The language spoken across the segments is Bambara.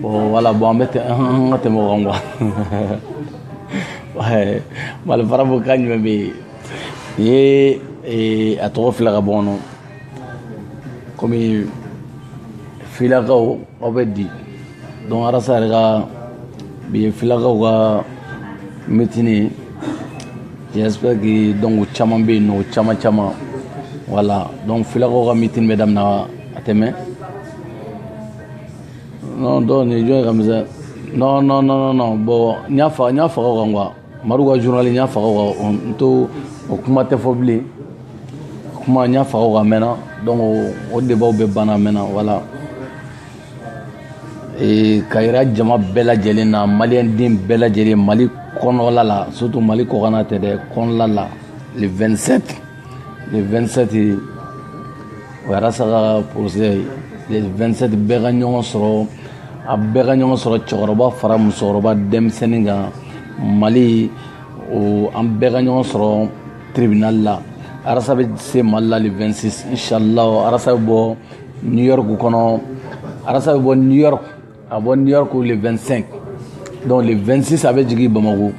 bon wala bon an bɛ tɛ an ka tɛmɛ o kan quoi mali farafo kan jumɛn bɛ yen nin ye eh, a tɔgɔ fila ka bɔ kɔnɔ komi filakaw aw bɛ di donc arasa yɛrɛ ka bi ye filakaw ka mitini ye j'espère que donc o caman bɛ yen nɔ o caman caman wala donc filakaw ka mitini bɛ daminɛ a tɛ mɛɛn non dɔw nin jɔn ye ka misɛn non non non non bon n y'a faga n y'a faga o kan quoi madu ka journal n y'a faga o kan n to o kuma tɛ fɔ bilen kuma n y'a faga o kan mɛnna donc o debaw bɛɛ banna mɛnna voilà ee ka yira jama bɛɛ lajɛlen na maliyɛn den bɛɛ lajɛlen mali kɔnɔla la surtout mali kɔkanna tɛ dɛ kɔnɔla la le 27 le 27 o ye arasa ka procès le 27 bɛɛ ka ɲɔgɔn sɔrɔ a bɛɛ ka ɲɔgɔn sɔrɔ cɛkɔrɔba fara musokɔrɔba denmisɛnnin kan mali o an bɛɛ ka ɲɔgɔn sɔrɔ tribunal la arasa bɛ se mali la le 26 inshallah arasa bɛ bɔ new york kɔnɔ arasa bɛ bɔ new york A bɔ New York le 25 donc le 26 a bɛ jigin Bamako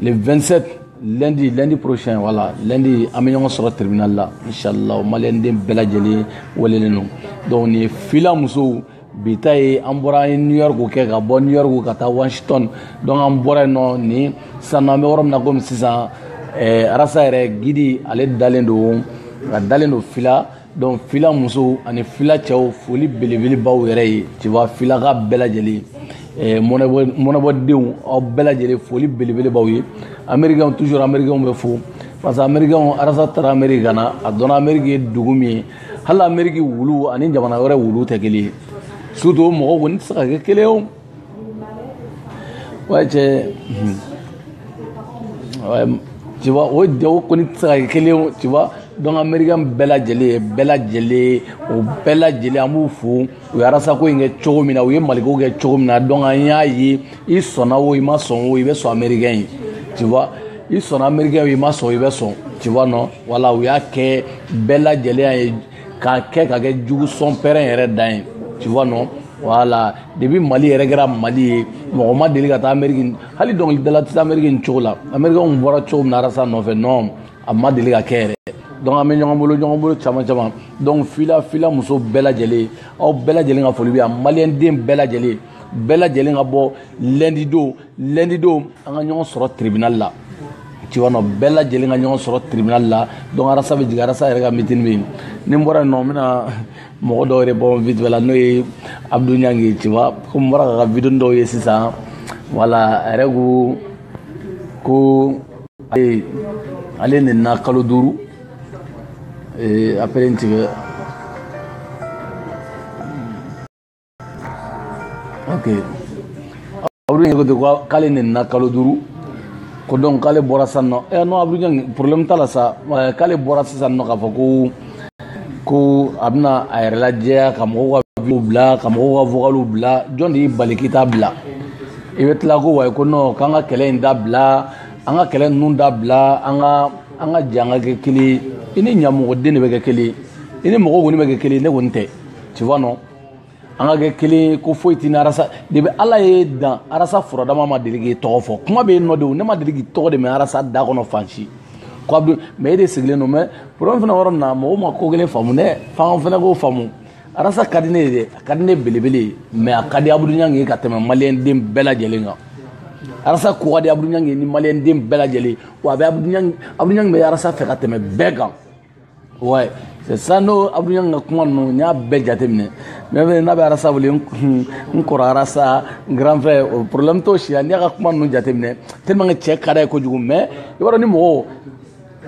le 27 lundi lundi prochain voilà lundi an bɛ ɲɔgɔn sɔrɔ tribunal la inshallah maliyɛnden bɛɛ lajɛlen welelen don donc nin ye fila musow bi ta ye an bɔra an ye new york kɛ ka bɔ new york ka taa washington donc an bɔra yen nɔ nin sisan nɔ an bɛ yɔrɔ min na komi sisan eh, arasa yɛrɛ guide ale dalen don a dalen don fila donc fila musow ani fila cɛw foli belebele b'aw yɛrɛ ye tu vois filaka bɛɛ lajɛlen eh, mɔnɛbɔdenw aw bɛɛ lajɛlen foli belebele b'aw ye amerikɛnw toujours amerikɛnw bɛ fo parce que amerikɛnw arasa tara ameriki ka na a dɔnna ameriki ye dugu min ye hali ameriki wulu ani jamana wɛrɛ wulu tɛ kelen ye surtout o mɔgɔw kɔni tɛ se ka kɛ kelen ye Ouais, j'ai. Mhm. Ouais, tu vois, o mɔgɔ kɔni tɛ se ka kɛ kelen ye tu vois donc américain bɛɛ lajɛlen bɛɛ lajɛlen o bɛɛ lajɛlen an b'u fo u ye arasako in kɛ cogo min na u ye maliko kɛ cogo min na donc an y'a ye i sɔnna o i ma sɔn o i bɛ sɔn américain ye tu vois i sɔnna américain o i ma sɔn i bɛ sɔn tu vois non voilà u y'a kɛ bɛɛ lajɛlen y'a ye k'a kɛ ka kɛ jugu sɔn pɛrɛn yɛrɛ dan ye tu vois non voilà depuis mali yɛrɛ kɛra mali ye mɔgɔ ma deli ka taa ameriki hali dɔnkilidala tɛ taa ameriki nin cogo la amerikɛnw bɔra cogo min na arasa nɔfɛ non a ma deli ka kɛ yɛrɛ donc an bɛ ɲɔgɔn bolo ɲɔgɔn bolo caman caman donc fila fila muso bɛɛ lajɛlen aw bɛɛ lajɛlen ka foli bɛ yan maliyɛnden bɛɛ lajɛlen bɛɛ lajɛlen ka bɔ lɛndidon lɛndidon an ka ɲɔgɔn sɔrɔ tribinali la tu vois non bɛɛ lajɛlen ka ɲɔgɔn sɔrɔ tribinali la donc arasa bɛ jigin arasa yɛrɛ ka mitini bɛ yen ni n bɔra yen nɔ n bɛna mɔgɔ dɔw yɛrɛ bɔ vitibɛ la n'o ye abdu ɲangi tu vois komi n bɔra k'a ka vidéoni dɔw ye sisan voilà a yɛrɛ ko ko ale ale nenina kalo duuru eh, après n tigɛ ok abdul ɲangi ko ten ko k'ale nenina kalo duuru ko donc k'ale bɔra sisan nɔ ɛ non abdul ɲangi problème t'a la sa k'ale bɔra sisan nɔ k'a fɔ ko ko a bɛna a yɛrɛ lajɛya ka mɔgɔw ka biw bila ka mɔgɔw ka vocaliw bila jɔn de y'i bali k'i t'a bila i bɛ tila ko wayi ko non k'an ka kɛlɛ in dabila an ka kɛlɛ ninnu dabila an ka an ka jɛ an ka kɛ kelen ye i ni ɲamɔgɔden de bɛ kɛ kelen ye i ni mɔgɔw kɔni bɛ kɛ kelen ye ne kɔni tɛ tu vois non an ka kɛ kelen ye ko foyi tɛ ni arasa de bɛ ala ye dan arasa furadama ma deli k'i tɔgɔ fɔ kuma bɛ yen nɔ de o ne ma deli k'i tɔgɔ de mɛ arasa da kɔnɔ fan si ko a bɛ mɛ e de sigilen don mais problème fana yɔrɔ min na mɔgɔw ma ko kelen faamu dɛ f'an fana k'o faamu arasa ka di ne ye dɛ a ka di ne belebele ye mais a ka di abudu ɲangi ye ka tɛmɛ maliyɛn den bɛɛ lajɛlen kan arasa ko ka di abudu ɲangi ye ni maliyɛn den bɛɛ lajɛlen wa a bɛ abudu ɲangi bɛ arasa fɛ ka tɛmɛ bɛɛ kan Ouais, c'est ça n'o Abdou Niang ka kuma ninnu n y'a bɛɛ jateminɛ mais mais n'a bɛ arasa wele n kɔrɔ arasa n grand frère o problème t'o si la n'i y'a ka kuma ninnu jateminɛ tellement que cɛ ka d'a ye kojugu mais i b'a dɔn ni mɔgɔw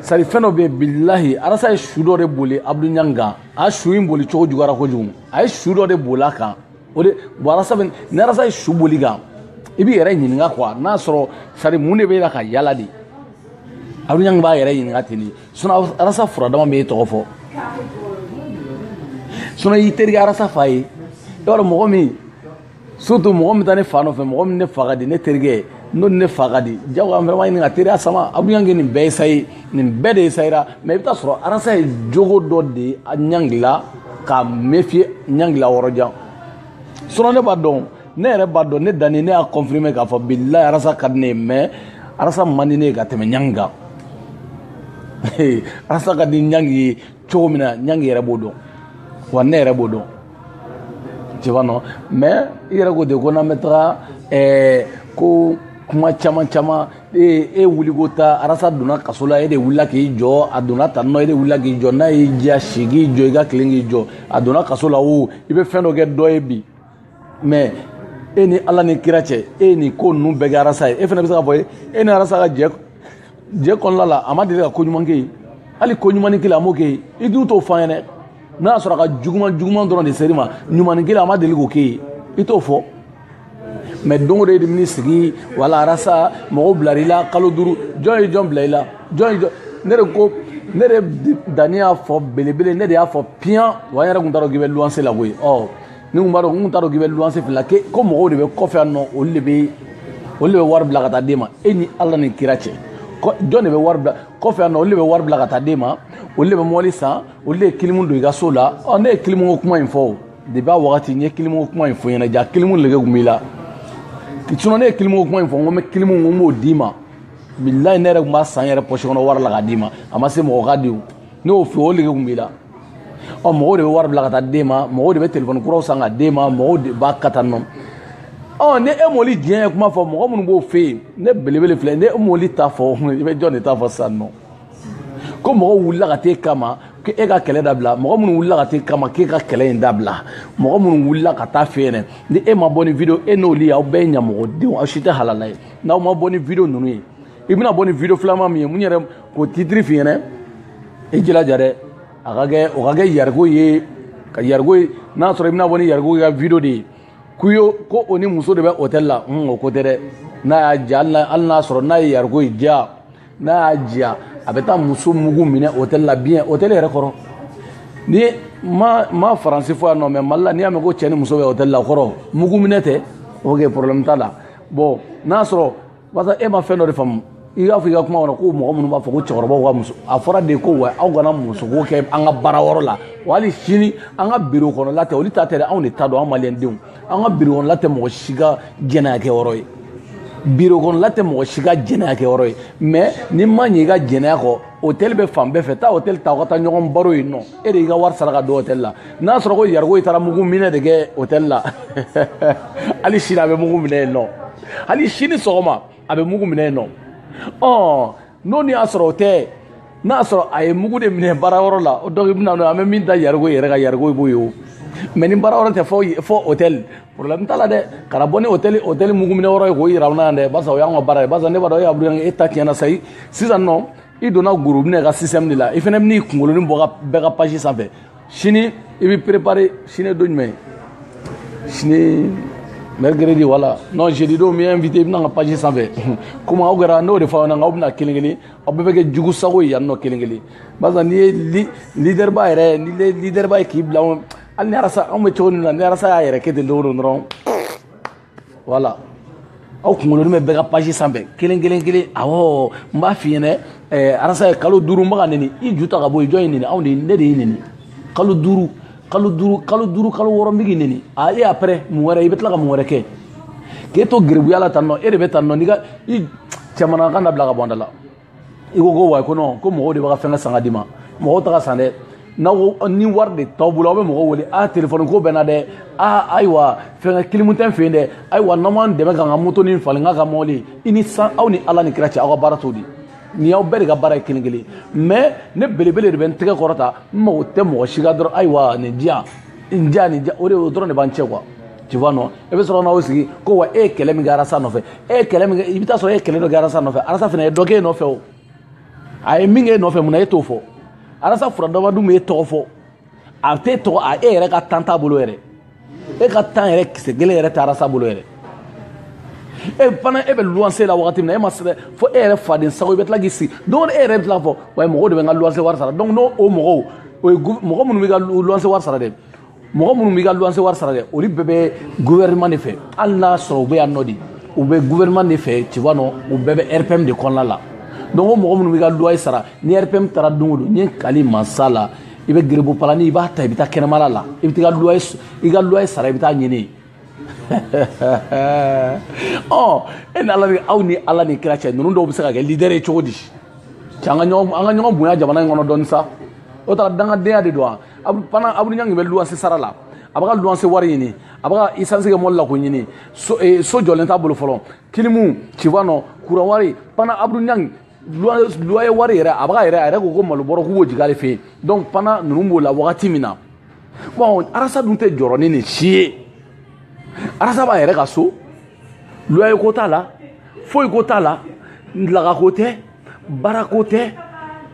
sari fɛn dɔ bɛ yen bilahi arasa ye su dɔ de boli Abdou Niang kan a su in boli cogo juguyara kojugu a ye su dɔ de boli a kan o de bon arasa bɛ ni arasa ye su boli i kan i b'i yɛrɛ ɲininka quoi n'a sɔrɔ sari mun de b'e la ka yala de Abdou Niang b'a yɛrɛ ɲininka ten de sun arasa furadama ma e tɔgɔ fɔ sun y'i terikɛ arasa fa ye i b'a dɔn mɔgɔ min surtout mɔgɔ min taa ne fa nɔfɛ mɔgɔ min ne fa ka di ne terikɛ ye n'o ne fa ka di jago an vraiment ɲininka teriya sama a bɛ ɲangi nin bɛɛ ye sayi nin bɛɛ de ye sayira mais i bɛ taa sɔrɔ arasa ye jogo dɔ de ye a ɲangi la ka méfier ɲangi la yɔrɔjan sinon ne b'a dɔn ne yɛrɛ b'a dɔn ne danni ne y'a confirmer k'a fɔ bilayi arasa ka di ne ye mais arasa man di ne ye ka tɛmɛ ɲangi kan arasa ka di ɲangi ye cogo min na ɲangi yɛrɛ b'o dɔn wa ne yɛrɛ b'o dɔn tu vois non mais i yɛrɛ ko de ko n'an bɛ taga ɛɛ ko kuma caman caman e e wuliko ta arasa donna kaso la e de wulila k'i jɔ a donna tan nɔ e de wulila k'i jɔ n'a y'i diya si k'i jɔ i ka tilen k'i jɔ a donna kaso la o i bɛ fɛn dɔ kɛ dɔ ye bi mais e ni ala ni kira cɛ e ye nin ko ninnu bɛɛ kɛ arasa ye e fana bɛ se k'a fɔ e ni arasa ka jɛ jɛ kɔnɔna la a ma deli ka ko ɲuman k'e ye hali ko ɲumannin kelen a m'o k'e ye i dun t'o fɔ an ɲɛ na n'a sɔrɔ a ka juguman juguman dɔrɔn de ser'i ma ɲumannin kelen a ma deli k'o k'e ye i t'o fɔ mɛ don o don e de bɛn'i sigi wala arasa mɔgɔw bilara i la kalo duuru jɔn ye jɔn bila i la jɔn ye jɔn ne de ko ne de danni y'a fɔ belebele ne de y'a fɔ piyan wa n yɛrɛ tun t'a dɔn k'i bɛ luwanse la koyi ɔ ne kun b'a dɔn n t'a dɔn k'i bɛ luwanse fila kɛ ko mɔgɔw de bɛ kɔfɛ yan nɔ olu de bɛ olu de bɛ wari bila ka taa d'e ma e ni ala ni kira cɛ jɔn de bɛ wari bila kɔfɛ yan nɔ olu de bɛ wari bila ka taa d'e ma olu de bɛ mɔbili san olu de ye kilimu don i ka so la ɔ ne ye kilimu ko kuma in fɔ o depi a wagati n ye kilimu ko kuma in f'i ɲɛ na ja kilimu lege kun b'i la sinɔn ne ye kilimu ko kuma in fɔ n ko n bɛ kilimu n ko n b'o d'i ma bilayi ne yɛrɛ tun b'a san n yɛrɛ pɔsi kɔnɔ wari la k'a d'i ma a ma se mɔgɔ ka di o ne y'o fɔ o lege kun b'i la ɔ mɔgɔw de bɛ wari bila ka taa d'e ma mɔgɔw de bɛ telefɔni kuraw san ka d'e ma mɔgɔw de b'a kata nɔ ɔ ni e m'olu diɲɛ ye kuma fɔ mɔgɔ minnu b'o fɛ yen ne belebele filɛ ni e m'olu ta fɔ i bɛ jɔn de ta fɔ sisan nɔ ko mɔgɔw wulila ka t'e kama ko e ka kɛlɛ dabila mɔgɔ minnu wulila ka t'e kama k'e ka kɛlɛ in dabila mɔgɔ minnu wulila ka taa i fɛ yen ni e ma bɔ ni video e n'olu aw bɛɛ ye ɲamɔgɔdenw aw si tɛ halala ye n'aw ma bɔ ni video ninnu ye i bɛna bɔ ni video filanan min ye n yɛrɛ k'o titiri f'i ɲɛ na i jilaja dɛ a ka kɛ o ka kɛ yariko ye ka yariko ye n'a sɔrɔ i bɛna bɔ ni yariko ka video de ye k'u ye ko o ni muso de bɛ hôtel la hun o ko tɛ dɛ n'a y'a diya hali n'a sɔrɔ n'a ye yariko ye diya n'a y'a diya a bɛ taa muso mugu minɛ hôtel la bien hôtel yɛrɛ kɔrɔ ne ma ma faransi fɔ yan nɔ mɛ mali la n'i y'a mɛn ko cɛ ni muso bɛ hôtel la o kɔrɔ mugu minɛ tɛ ok problème t'a la bon n'a sɔrɔ Walasa e ma fɛn dɔ de faamu i y'a fɔ i ka kuma kɔnɔ ko mɔgɔ minnu b'a fɔ ko cɛkɔrɔba ka muso a fɔra de ko wa aw kana muso kɛ an ka baara yɔrɔ la wa hali sini an ka biro kɔnɔla tɛ olu ta tɛ anw de ta don an malidenw an ka biro kɔnɔla tɛ mɔgɔ si ka jɛnɛya kɛ yɔrɔ ye biro kɔnɔla tɛ mɔgɔ si ka jɛnɛya kɛ yɔrɔ ye mɛ n'i ma ɲɛ i ka jɛnɛya kɔ hôtel bɛ fan bɛɛ fɛ taa hôtel ta aw ka taa ɲɔgɔn baro yen nɔ e de y'i ka wari sara ka don hôtel la n'a sɔrɔ ko yariko i taara mugu minɛ de kɛ hôtel la hali sini a bɛ mugu minɛ yen nɔ hali sini sɔgɔma a bɛ mugu minɛ yen nɔ ɔ n'o ni y'a sɔrɔ o tɛ n'a sɔrɔ a ye mugu de minɛ baara yɔrɔ la o dɔw bɛna n'o an bɛ min da yariko yɛrɛ ka yariko b'o ye o mɛ ni baara yɔrɔ tɛ fɔ fɔ hôtel problème t'a la dɛ kana bɔ ni hôtel hôtel mugu minɛ yɔrɔ ye k'o yira u la yan dɛ barisa o y'an ka baara ye barisa ne b'a dɔn e abudulayi e ta tiɲɛna sayi sisan nɔ i donna gorobinɛ ka système de la i fana bɛn'i kunkolonin bɔ bɛɛ ka page sanfɛ sini i bɛ préparer sini don jumɛn sini mercredi wala non jeudi don mi invité i bɛ na n ka page sanfɛ komi aw kɛra n'o de fɔ aw ɲɛna k'aw bɛna kelen kelen aw bɛɛ bɛ kɛ jugu sago ye yan nɔ kelen kelen barisa n'i ye leaderba yɛrɛ n'i ye leaderba ye k'i bila hali ni arasa anw bɛ cogo min na ni arasa y'a yɛrɛ kɛ ten don o don dɔrɔn voilà aw kunkolonin bɛ bɛɛ ka page sanfɛ kelen kelen kelen awɔ n b'a f'i ɲɛna ɛɛ arasa ye kalo duuru n bɛ k'a nɛni i ju ta ka bɔ yen jɔn y'i nɛni anw de ne de y'i nɛni kalo duuru kalo duuru kalo duuru kalo wɔɔrɔ n bɛ k'i nɛni a e après mun wɛrɛ i bɛ tila ka mun wɛrɛ kɛ k'e to geribuya la tan nɔ e de bɛ tan nɔ n'i ka i jamana kan dabila ka bɔ an da la i ko ko wa ko non ko mɔgɔw de bɛ ka fɛnkɛ san ka d'i ma mɔgɔw t'a ka san dɛ n'aw ni wari de t'aw bolo aw bɛ mɔgɔw wele a telefɔni ko bɛ na dɛ a ayiwa fɛnkɛ kilimu tɛ n fɛ yen dɛ ayiwa n'aw m'an dɛmɛ k'an ka moto ni falen n k'a ka mɔbili i ni san aw ni ala ni kira cɛ aw ka baara t'o di nin y'aw bɛɛ de ka baara ye kelen kelen mais ne belebele de bɛ n tɛgɛ kɔrɔta n mago tɛ mɔgɔ si ka dɔrɔmɛ ayiwa nin diya nin diya nin diya o de o dɔrɔn de b'an cɛ quoi tu vois non e bɛ sɔrɔ n'aw sigi ko wa e ye kɛlɛ min kɛ arasa nɔfɛ e ye kɛlɛ min kɛ i bɛ taa sɔrɔ e ye kɛlɛ dɔ kɛ arasa nɔfɛ arasa fana ye dɔ kɛ e nɔfɛ o a ye min kɛ e nɔfɛ mun na e t'o fɔ arasa furadaba dun bɛ e tɔgɔ fɔ a tɛ tɔgɔ a e yɛrɛ ka temps t'a bolo yɛrɛ e ka temps yɛrɛ kisɛ kelen yɛrɛ tɛ arasa bolo yɛrɛ e fana e bɛ luwanse la wagati min na e ma sɛbɛn fo e yɛrɛ faden sago i bɛ tila k'i sigi don e yɛrɛ bɛ tila fɔ wa mɔgɔw de bɛ n ka luwanse wari sara donc n'o o mɔgɔw o ye mɔgɔ minnu bɛ ka luwanse wari sara dɛ mɔgɔ minnu b'i ka luwanse wari sara dɛ olu bɛɛ bɛ gouvernement de fɛ hali n'a sɔrɔ u bɛ yan nɔ de u bɛ gouvernement de fɛ tu vois non u bɛɛ bɛ rpm de kɔnɔna la donc o mɔgɔ minnu b'i ka loyer sara ni rpm taara don o don ne kali mansa la i bɛ geribu palani i b'a ta i bɛ taa kɛnɛmala la i bɛ taa i ka loyer i ka loyer sara i bɛ taa ɲini e ni ala aw ni ala ni kira cɛ ninnu dɔw bɛ se ka kɛ leader ye cogo di cɛ an ka ɲɔgɔn bonya jamana in kɔnɔ dɔɔni sa o taara dangadenya de don wa fana abudu ɲangi bɛ luwanse sara la a bɛ ka luwanse wari ɲini a bɛ ka isansi kɛ mɔbili la ko ɲini so jɔlen t'a bolo fɔlɔ kilimu tu vois non kuran wari fana abudu ɲangi loyer wari yɛrɛ a b'a yɛrɛ a yɛrɛ ko ko malo bɔrɔ k'u b'o jigin ale fɛ yen donc fana ninnu b'o la wagati min na bon arasa dun tɛ jɔrɔ ni nin si ye arasa b'a yɛrɛ ka so loyer ko t'a la foyi ko t'a la laga ko tɛ baara ko tɛ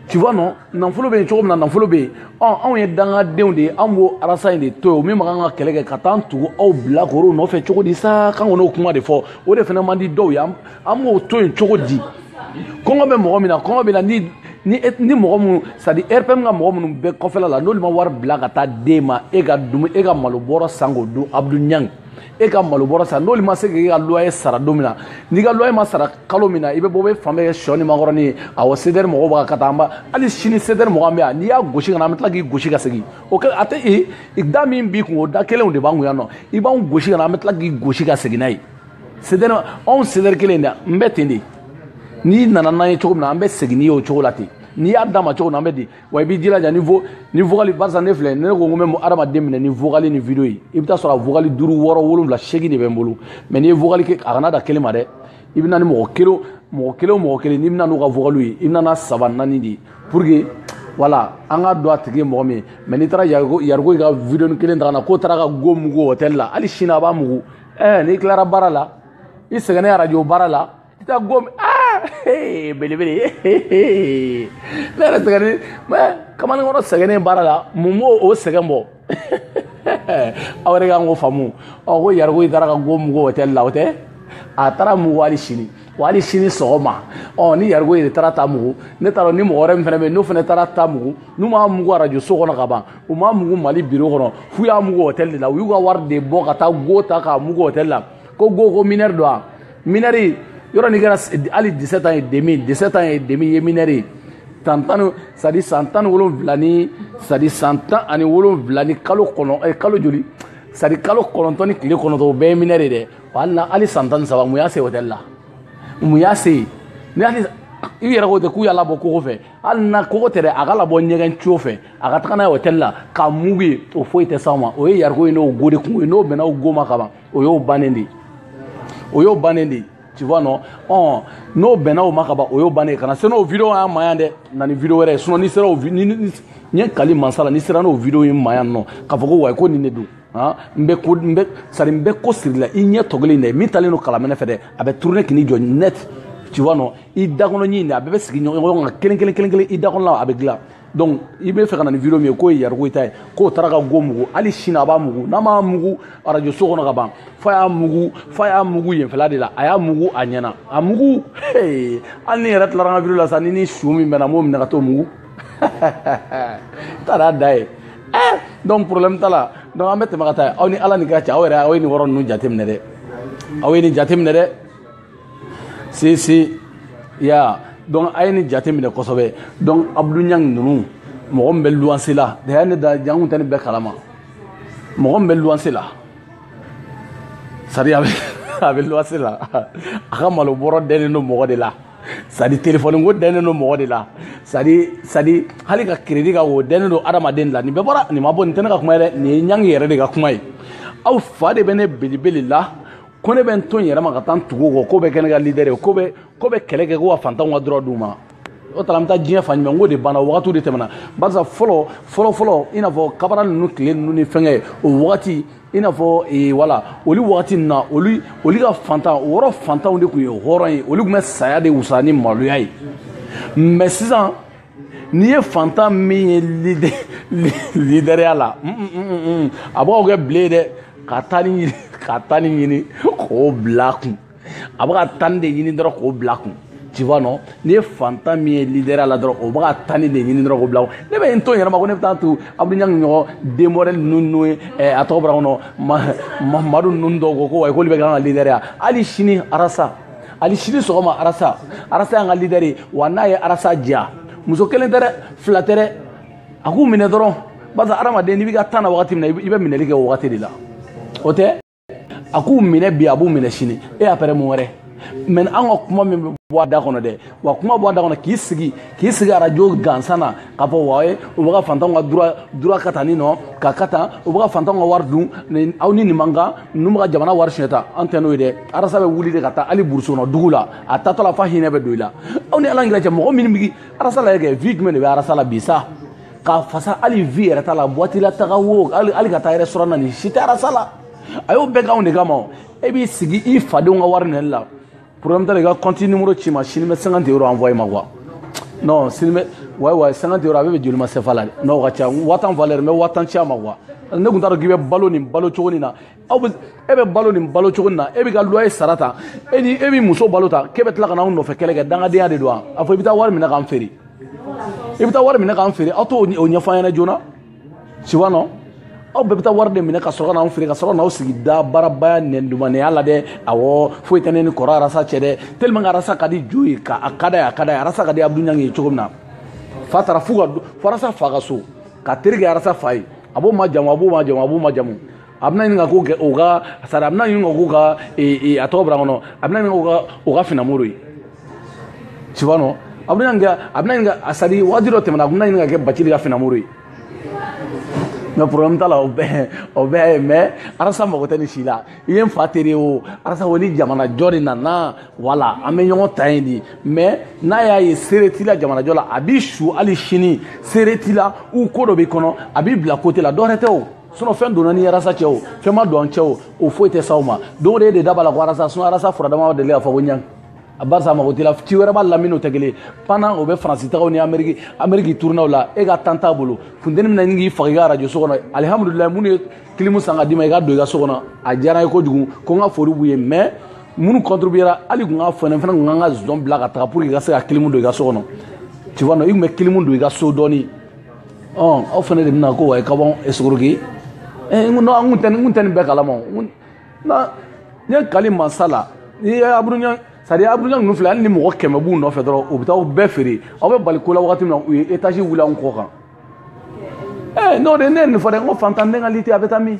tu vois non nafolo bɛ yen cogo min na nafolo bɛ yen ɔ anw ye dangadenw de ye anw b'o arasa in de to yen min man kan ka kɛlɛ kɛ ka taa an tugu aw bilakorow nɔfɛ cogo di sa k'an kɔni y'o kuma de fɔ o de fana man di dɔw ye an b'o to yen cogo di kɔngɔ bɛ mɔgɔ min na kɔngɔ bɛ na ni ni ni mɔgɔ minnu sadi rpm ka mɔgɔ minnu bɛ kɔfɛla la n'olu ma wari bila ka taa d'e ma e ka dumu e ka malo bɔrɔ san k'o dun abdu ɲang e ka malo bɔrɔ san n'olu ma se k'e ka loyer sara don min na n'i ka loyer ma sara kalo min na i bɛ bɔ bɛ fan bɛɛ kɛ sɔ ni makɔrɔni ye awɔ cdr mɔgɔw b'a ka taa an ba hali sini cdr mɔgɔ an bɛ yan n'i y'a gosi ka na an bɛ tila k'i gosi ka segin o kɛ a tɛ e da min b'i kun o da kelenw de b'an kun yan nɔ i b'anw gosi ka na an bɛ tila k'i gosi ka segin n'a ye cdr anw cdr kɛledenw bɛ ten de n'i nana n'an ye cogo min na an bɛ segin n'i ye o cogo la ten n'i y'a d'an ma cogo min na an b'a di wa i b'i jilaja ni vo ni vogali barisa ne filɛ ne ko n ko n bɛ adamaden minɛ ni vogali ni video ye i bɛ taa sɔrɔ a vogali duuru wɔɔrɔ wolonwula seegin de bɛ n bolo mɛ n'i ye vogali kɛ a kana dan kelen ma dɛ i bɛ na ni mɔgɔ kelen mɔgɔ kelen o mɔgɔ kelen n'i bɛna n'u ka vogaliw ye i bɛna na saba naani de ye pour que wala an ka don a tigi ye mɔgɔ min ye mɛ n'i taara yariko i ka video kelen ta ka na k'o taara ka go mugu hôtel la hali sini a b'a mugu ɛɛ n'i tilara baara la i sɛgɛnnen arajo baara la i taa gomi aa belebele ne yɛrɛ sɛgɛnnen mɛ kamalenkɔrɔ sɛgɛnnen baara la mun b'o o sɛgɛn bɔ aw yɛrɛ kan k'o faamu ɔ ko yariko i taara ka go mugu hôtel la o tɛ a taara mugu hali sini wa hali sini sɔgɔma ɔ ni yariko yɛrɛ taara t'a mugu ne t'a dɔn ni mɔgɔ wɛrɛ min fana bɛ yen n'o fana taara t'a mugu n'u m'a mugu arajo so kɔnɔ ka ban u m'a mugu mali biro kɔnɔ f'u y'a mugu hôtel de la u y'u ka wari de bɔ ka taa go ta k'a mugu hôtel la ko go ko minɛri don a minɛri yɔrɔ n'i kɛra hali 17 ans et demi 17 ans et demi ye minɛri ye san tan ni sadi san tan ni wolonwula ni sadi san tan ani wolonwula ni kalo kɔnɔ eh, kalo joli sadi kalo kɔnɔntɔn ni tile kɔnɔntɔn o bɛɛ ye minɛri ye dɛ wa hali na hali san tan ni saba mun y'a se hôtel la mun y'a se ni hali i yɛrɛ ko ten k'u y'a labɔ kogo fɛ hali n'a kogo tɛ dɛ a k'a labɔ ɲɛgɛn co fɛ a ka taga n'a ye hôtel la k'a mugu yen o foyi tɛ s'aw ma o ye yariko ye n'o go de kunko ye n'o bɛnna o go ma kaban o y'o bannen de ye o y'o bannen de ye tu vois non ɔn n'o bɛnna o ma kaban o y'o bannen ye kana se n'o video y'an ma yan dɛ na ni video wɛrɛ ye sinon n'i sera o ni n ye n kali mansa la n'i sera n'o video ye n ma yan nɔ k'a fɔ ko wayi ko nin de don n bɛ ko n bɛ sari n bɛ ko sirila i ɲɛ tɔgɔlen dɛ min talen don kalamɛnɛ fɛ dɛ a bɛ tourner ka n'i jɔ net tu vois non i dakɔnɔ ɲin de a bɛɛ bɛ sigi ɲɔgɔn kan kelen kelen kelen kelen i dakɔnɔ la a bɛ dilan donc i bɛ fɛ ka na ni video min ye k'o ye yariko ta ye k'o taara ka go mugu hali sini a b'a mugu n'a m'a mugu arajo so kɔnɔ ka ban f'a y'a mugu f'a y'a mugu yenfɛla de la a y'a mugu a ɲɛna a mugu hali ni n yɛrɛ tilara an ka video la sa ni n ni su min bɛnna n b'o minɛ ka t'o mugu taara da ye eh, donc problème t'a la donc an bɛ tɛmɛ ka taa aw ni ala ni ka cɛ aw yɛrɛ aw ye nin yɔrɔ ninnu jateminɛ dɛ aw ye nin jateminɛ dɛ si si ya donc a ye nin jateminɛ kosɛbɛ donc abdu ɲangi ninnu mɔgɔ min bɛ luwanse la daya ne da jangun tɛ ne b'e kalama mɔgɔ min bɛ luwanse la sari a bɛ luwanse la a ka malo bɔrɔ dɛnnen don mɔgɔ de la sadi telefɔni ko dɛnnen don mɔgɔ de la sadi sadi hali ka kiredi ko dɛnnen don adamaden la nin bɛɛ bɔra nin ma bɔ nin tɛ ne ka kuma ye dɛ nin ye ɲangi yɛrɛ de ka kuma ye aw fa de bɛ ne belebele la ko ne bɛ n to n yɛrɛ ma ka taa n tugu kɔ k'o bɛ kɛ ne ka lidɛri ye k'o bɛ k'o bɛ kɛlɛ kɛ ko ka fantanw ka droit d'u ma o tara an bɛ taa diɲɛ fan jumɛn ko de banna o wagatiw de tɛmɛna barisa fɔlɔ fɔlɔ fɔlɔ i n'a fɔ kabara ninnu tile ninnu ni fɛngɛ o wagati i n'a fɔ ee, wala olu wagati nin na olu olu ka fantan o yɔrɔ fantanw de tun ye hɔrɔn ye olu tun bɛ saya de wusa ni maloya ye mɛ sisan n'i ye fantan min ye lidɛriya la mm, mm, mm, a b'aw kɛ bile ye dɛ ka tani ɲini ka tani ɲini k'o bila kun a bɛ ka tani de ɲini dɔrɔn k'o bila kun tu vois non n'i ye fantan min ye leader la dɔrɔn o bɛ ka tani de ɲini dɔrɔn k'o bila kun ne bɛ n to n yɛrɛ ma ko ne bɛ taa to abudulayi ɲangi ɲɔgɔn denmɔrɛli ninnu n'o ye a tɔgɔ bɔra n kɔnɔ mamadu ninnu dɔw ko ko wayi k'olu bɛ k'an ka leader ya hali sini arasa hali sini sɔgɔma arasa arasa y'an ka leader ye wa n'a ye arasa diya muso kelen tɛ dɛ fila tɛ dɛ a k'u minɛ dɔrɔn barisa hadamaden n'i b'i ka tan na wagati min na i bɛ minɛli kɛ o wagati de la o tɛ a k'u minɛ bi a b'u minɛ sini e y'a pɛrɛ mun wɛrɛ mɛ an ka kuma min bɛ bɔ a da kɔnɔ dɛ wa kuma bɔ a da kɔnɔ k'i sigi k'i sigi arajo gansan na k'a fɔ wa ye u bɛ ka fantanw ka dura dura ka tanni nɔ ka ka tan u bɛ ka fantanw ka wari dun nin aw ni nin man kan ninnu bɛ ka jamana wari siɲɛ ta an tɛ n'o ye dɛ arasa bɛ wuli de ka taa hali burusi kɔnɔ dugu la a tatɔ la f'a hinɛ bɛ don i la aw ni ala yɛrɛ cɛ mɔgɔ minnu bɛ arasa la yɛrɛ kɛ vie jumɛn de bɛ arasa la bi sa k'a fasa hali vie yɛrɛ t'a la boîte la taga wo hali ka taa restaurant na nin si tɛ arasa la a y'o bɛɛ k'anw de kama e b'i sigi i fadenw ka wari deli la problème t'a la i ka compte numéro ci n ma sini n bɛ 50 euro envoyé i ma quoi non sini bɛ wayi wayi 50 euro a bɛ bɛn joli ma sefa la dɛ n'o ka ca wa tan valeur n bɛ wa tan ci a ma quoi ne tun t'a dɔn k'i bɛ balo nin balo cogo nin na aw bɛ e bɛ balo nin balo cogo na e bɛ ka loyer sara tan e ni e bɛ muso balo tan k'e bɛ tila ka n'aw nɔfɛ kɛlɛ kɛ dangadenya de don wa a fɔ i bɛ taa wari minɛ k'an feere i bɛ taa wari minɛ k'an feere aw t'o ɲɛfɔ an ɲɛna joona siwa nɔ aw bɛɛ bɛ taa wari de minɛ ka sɔrɔ ka n'anw feere ka sɔrɔ n'aw sigi da baarabaya nɛndumanya la dɛ awɔ foyi tɛ ne ni kɔrɔ arasa cɛ dɛ tellement arasa ka di jo ye ka a ka d'a ye a ka d'a ye arasa ka di abdu ɲangi ye cogo min na f'a taara fo ka fo arasa fa ka so ka terikɛ arasa fa ye a b'o majamu a b'o majamu a b'o majamu a bɛna ɲini ka ko kɛ o ka sari a bɛna ɲini ka k'u ka a tɔgɔ bila kɔnɔ a bɛna ɲini ka o ka finamoro ye tu vois non a bɛna ɲini ka a bɛna ɲini ka a sari waati dɔ tɛmɛna a bɛna ɲini ka kɛ bacili ka finamoro ye mɛ problème t'a la o bɛɛ o bɛɛ ye mɛ arasa mago tɛ nin si la i ye n fa tere o arasa o ni jamanajɔ de nana wala an bɛ ɲɔgɔn ta yen de mɛ n'a y'a ye seere t'i la jamanajɔ la a b'i su hali sini seere t'i la u ko dɔ b'i kɔnɔ a b'i bila kote la dɔ wɛrɛ tɛ o sinɔn fɛn donna ni arasa cɛ o fɛn ma don an cɛ o o foyi tɛ s'aw ma don o don e de da b'a la ko arasa sinɔn arasa furadama deli k'a fɔ ko ɲang a barisa a mago t'i la ci wɛrɛ b'a lamini o tɛ kelen panan o bɛ faransi tagaw ni ameriki ameriki turunaw la e ka tan t'a bolo funteni mina ni k'i faga i ka arajo so kɔnɔ alihamudulilayi minnu ye kilimu san ka d'i ma i ka don i ka so kɔnɔ a diyara n ye kojugu ko n ka foli b'u ye mɔgɔ minnu contribuera hali kun ka fɛnɛ fɛnɛ kun kan ka zɔn bila ka taga pour que i ka se ka kilimu don i ka so kɔnɔ tu vois non i kun bɛ kilimu don i ka so dɔɔni ɔ aw fana de bɛna ko wa ka bɔ esuruki n ko an kun tɛ n kun tɛ nin bɛɛ kalama o n na n ye kali mansa la n'i ye aburuɲɛ sari aburuɲɛ ninnu filɛ hali ni mɔgɔ kɛmɛ b'u nɔfɛ dɔrɔn u bɛ taa u bɛɛ feere aw bɛ bali ko la wagati min na u ye etazi wuli anw kɔ kan ɛɛ n'o de ne ye nin fɔ dɛ n ko fantanden ka liti a bɛ taa min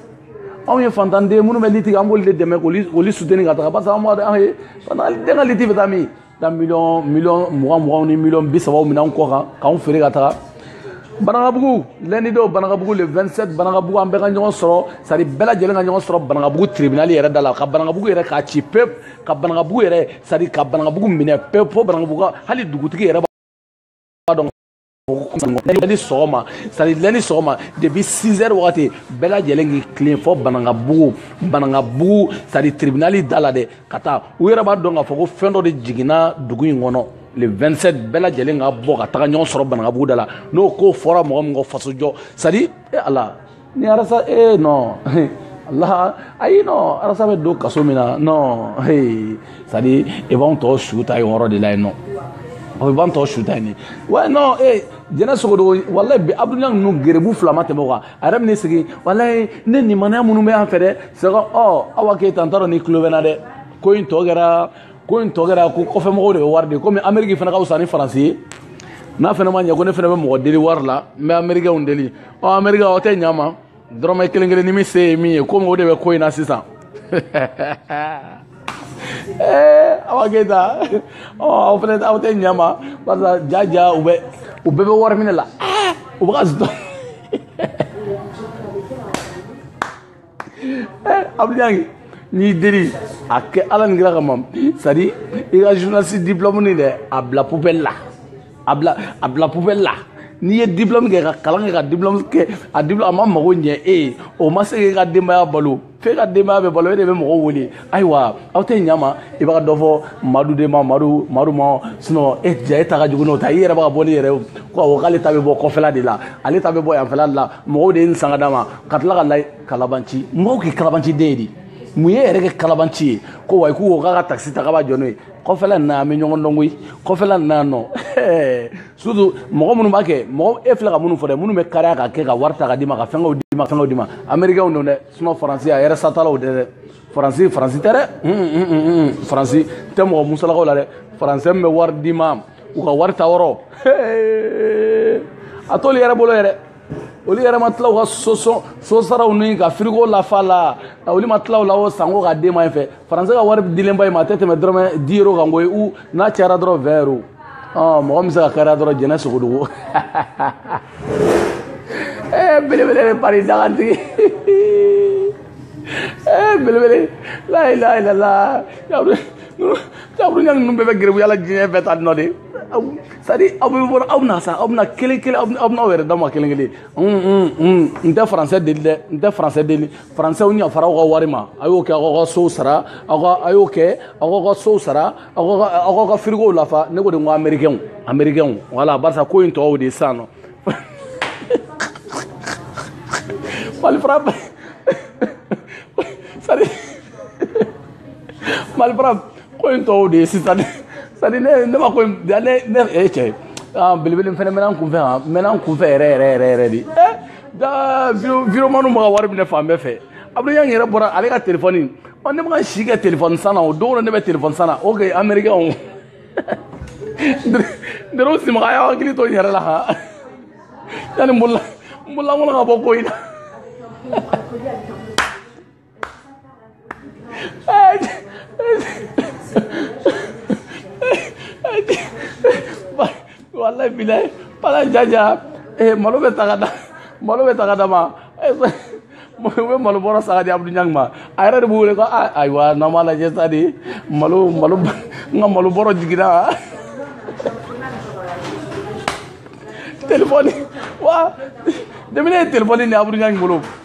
anw ye fantanden minnu bɛ liti an b'olu de dɛmɛ k'olu suteni ka taga barisa an b'a dɔn an ye fantanden ka liti bɛ taa min taa miliyɔn miliyɔn mugan muganw ni miliyɔn bi sabaw minɛ an kɔ kan k'anw feere ka taga banagabugu lɛndi don banagabugu le 27 banagabugu an bɛɛ ka ɲɔgɔn sɔrɔ sari bɛɛ lajɛlen ka ɲɔgɔn sɔrɔ banagabugu tribinali yɛrɛ da la ka banagabugu yɛrɛ k'a ci pep ka banagabugu yɛrɛ sari ka banagabugu minɛ pep fo banagabugu hali dugutigi yɛrɛ b'a dɔn ni sɔgɔma sari lɛndi sɔgɔma depuis 6 heures wagati bɛɛ lajɛlen k'i tilen fɔ banangabugu banangabugu sari tribunali da la dɛ ka taa u yɛrɛ b'a dɔn k'a fɔ ko fɛn dɔ de jiginna dugu in kɔnɔ le 27 bɛɛ lajɛlen ka bɔ ka taga ɲɔgɔn sɔrɔ banangabugu da la n'o ko fɔra mɔgɔ min kɔ fasojɔ sari e ala ni arasa ee non la ayi non arasa bɛ don kaso min na non ee c'est à dire e b'anw tɔ su ta yen yɔrɔ de la yen nɔ o b'an tɔ su ta yen de wa non ee jɛnɛ sogodogo walayi bi abudulayi ninnu gerebu fila ma tɛmɛ o kan a yɛrɛ bɛ n'i sigi walayi ne nimaniya minnu bɛ yan fɛ dɛ sɛgɛ ɔ awa keyita n t'a dɔn n'i tulo bɛ n na dɛ ko in tɔ kɛra ko in tɔ kɛra ko kɔfɛmɔgɔw de bɛ wari de komi ameriki fana ka fisa ni faransi ye n'a fana ma ɲɛ ko ne fana bɛ mɔgɔ deli wari la n bɛ amerikɛnw deli ɔ amerika aw tɛ ɲa ma dɔrɔmɛ kelen kelen ni min se ye min ye komi o de bɛ ko in na sisan eh, awa keyita ɔ aw fɛnɛ aw tɛ ɲa ma barisa ja ja u bɛ u bɛɛ bɛ wari minɛ la u bɛ ka zutɔ abudu ɲang n b'i deli a kɛ ala ni kira kama sadi i ka journaliste diplôme nin dɛ a bila poubelle la a bila a bila poubelle la n'i ye diplôme kɛ ka kalan kɛ ka diplôme kɛ a diplôme a ma mago ɲɛ e ye o ma se k'e ka denbaya balo f'e ka denbaya bɛ balo e de bɛ mɔgɔw wele ayiwa aw tɛ ɲama i b'a dɔ fɔ madu de ma madu madu ma sinɔ e ja e ta ka jugu n'o ta ye yɛrɛ b'a bɔ ni yɛrɛ ko awɔ k'ale ta bɛ bɔ kɔfɛla de la ale ta bɛ bɔ yanfɛla de la mɔgɔw de ye nin san ka d'a ma ka tila ka layi kalabanci mɔgɔw k'i kalabanci den ye de mun y'i yɛrɛ kɛ kalabanci ye ko wa k'u ko k'a ka takisi ta k'a b'a jɔ n'o ye kɔfɛla nin na an bɛ ɲɔgɔn dɔn koyi kɔfɛla nin na nɔ surtout mɔgɔ minnu b'a kɛ mɔgɔ e filɛ ka minnu fɔ dɛ minnu bɛ kariya ka kɛ ka wari ta ka d'i ma ka fɛngɛw d'i ma fɛngɛw d'i ma amerikɛnw don dɛ sinɔ faransi a yɛrɛ satalaw tɛ dɛ faransi faransi tɛ dɛ faransi tɛ mɔgɔ musalaka o la dɛ faransɛ min bɛ wari d'i ma u ka wari ta yɔrɔ a t'olu yɛrɛ bolo yɛrɛ olu yɛrɛ ma tila u ka so sosaraw ni ka firigo lafa la olu ma tila u la o sanko ka d'e ma yan fɛ faransi ka wari dilen b'an ma a tɛ tɛmɛ dɔrɔmɛ dix euros kan koyi u n'a cayara dɔrɔn vingt euros mɔgɔ min bɛ se ka kariya dɔrɔn jɛnɛ sogodogo belebele de pari dagantigi belebele layilayilala taburunya ninnu bɛɛ bɛ gɛrɛbuya la diɲɛ bɛɛ ta nɔ de sadi aw bɛ bɔ aw bɛna sa aw bɛna kelen kelen aw bɛna aw yɛrɛ dama kelen kelen n tɛ faransɛ deli dɛ n tɛ faransɛ deli faransɛw ni fara aw ka wari ma a y'o kɛ aw ka sow sara aw ka a y'o kɛ aw ka sow sara aw ka aw ka firigow lafa ne ko de ko amerikɛnw amerikɛnw wala barisa ko in tɔw de ye sisan nɔ malifara sari malifara ko in tɔw de ye sisan sari ne ne ma ko in ne ne e cɛ belebele fɛnɛ mɛnna n kunfɛ yan mɛnna n kunfɛ yɛrɛ yɛrɛ yɛrɛ yɛrɛ de da virement ma ka wari minɛ fan bɛɛ fɛ abudu ɲang yɛrɛ bɔra ale ka telefɔni ɔ ne ma ka si kɛ telefɔni san na o don na ne bɛ telefɔni san na o kɛ amerikɛnw dero simaga a y'a hakili to n yɛrɛ la ha yanni n bolola n bololankolon ka bɔ ko in na walayi bilayi pala jaja ee malo bɛ ta ka da malo bɛ san ka d'a ma u bɛ malo bɔrɔ san ka di abudu ɲang ma a yɛrɛ de b'u wele ko ayiwa n'an b'a lajɛ sa de malo malo n ka malo bɔrɔ jiginna telefɔni wa de min ye telefɔni nin abudu ɲang bolo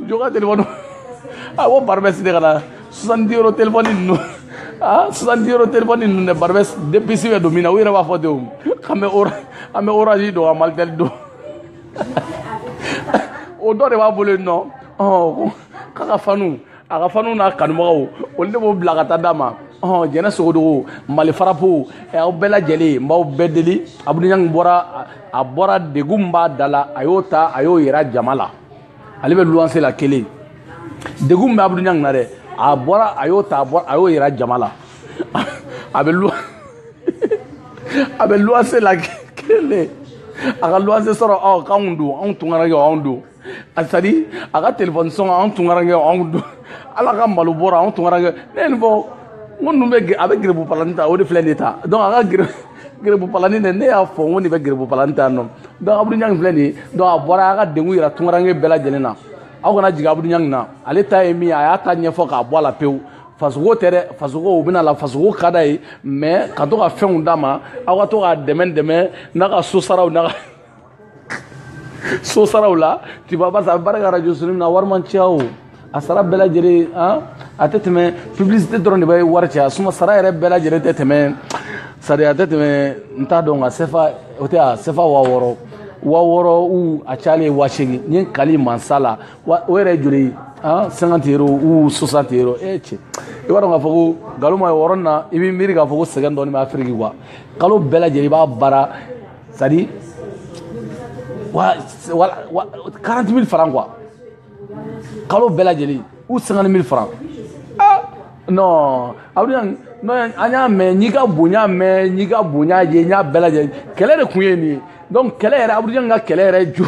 jɔ ka telefɔni a bɔ Barbès de ka na soixante euro telefɔni ninnu aa soixante euro telefɔni ninnu dɛ Barbès deux puces bɛ don min na u yɛrɛ b'a fɔ ten o k'an bɛ ora an bɛ Orange don ka malitɛli don o dɔ de b'a bolo yen nɔ ɔn k'a ka fanu a ka fanu n'a kanubagaw olu de b'o bila ka taa d'a ma ɔn jɛnɛ sogodogo mali farapo aw bɛɛ lajɛlen n b'aw bɛɛ deli Abdou Niang bɔra a bɔra degun b'a da la a y'o ta a y'o yira jama la ale bɛ luwanse la kelen degun min bɛ Abdou Niang na dɛ a bɔra a y'o ta a bɔra a y'o yira jama la a bɛ luwa a bɛ luwanse la kelen a ka luwanse sɔrɔ ɔ k'anw don anw tunkarankew anw don a sara a ka telefɔni sɔngɔ anw tunkarankew anw don ale ka malo bɔrɛ anw tunkarankew ne ye nin fɔ n ko ninnu bɛ a bɛ garibu plan ta o de filɛ nin ye ta donc a ka gere garibu plan dɛ ne y'a fɔ n ko nin bɛ garibu plan ta nɔ donc Abdou Niang filɛ nin ye donc a bɔra a ka degun yira tunkaranke bɛɛ lajɛlen na aw kana jigin Abdou Niang na ale ta ye min ye a y'a ta ɲɛfɔ k'a bɔ a la pewu fasoko tɛ dɛ fasoko u bɛna la fasoko ka da ye mɛ ka to ka fɛnw d'a ma aw ka to k'a dɛmɛ dɛmɛ n'a ka so saraw n'a ka so saraw la tu vas voir a bɛ baara kɛ radio so ninnu na wari man ca o a sara bɛɛ lajɛlen han a tɛ tɛmɛ publicité dɔrɔn de bɛ wari caya sinon sara yɛrɛ bɛɛ lajɛlen tɛ tɛmɛ sara a tɛ tɛmɛ n t'a dɔn nka sefa o tɛ a sefa waa wɔɔrɔ waa wɔɔrɔ ou a cayalen ye waa seegin n ye n kali mansa la wa o yɛrɛ ye joli ye han cinquante euro ou soixante euro e cɛ i b'a dɔn k'a fɔ ko nkalon ma ye o yɔrɔnin na i b'i miiri k'a fɔ ko sɛgɛn dɔɔnin bɛ afiriki quoi kalo bɛɛ lajɛlen i b'a baara c'est à dire wa wa 40 000 francs quoi kalo bɛɛ lajɛlen ou 50 000 francs ah non Abdou Niang mais n'i ka bonya mais n'i ka bonya ye n y'a bɛɛ lajɛlen kɛlɛ de tun ye nin ye donc kɛlɛ yɛrɛ Abdou Niang ka kɛlɛ yɛrɛ jo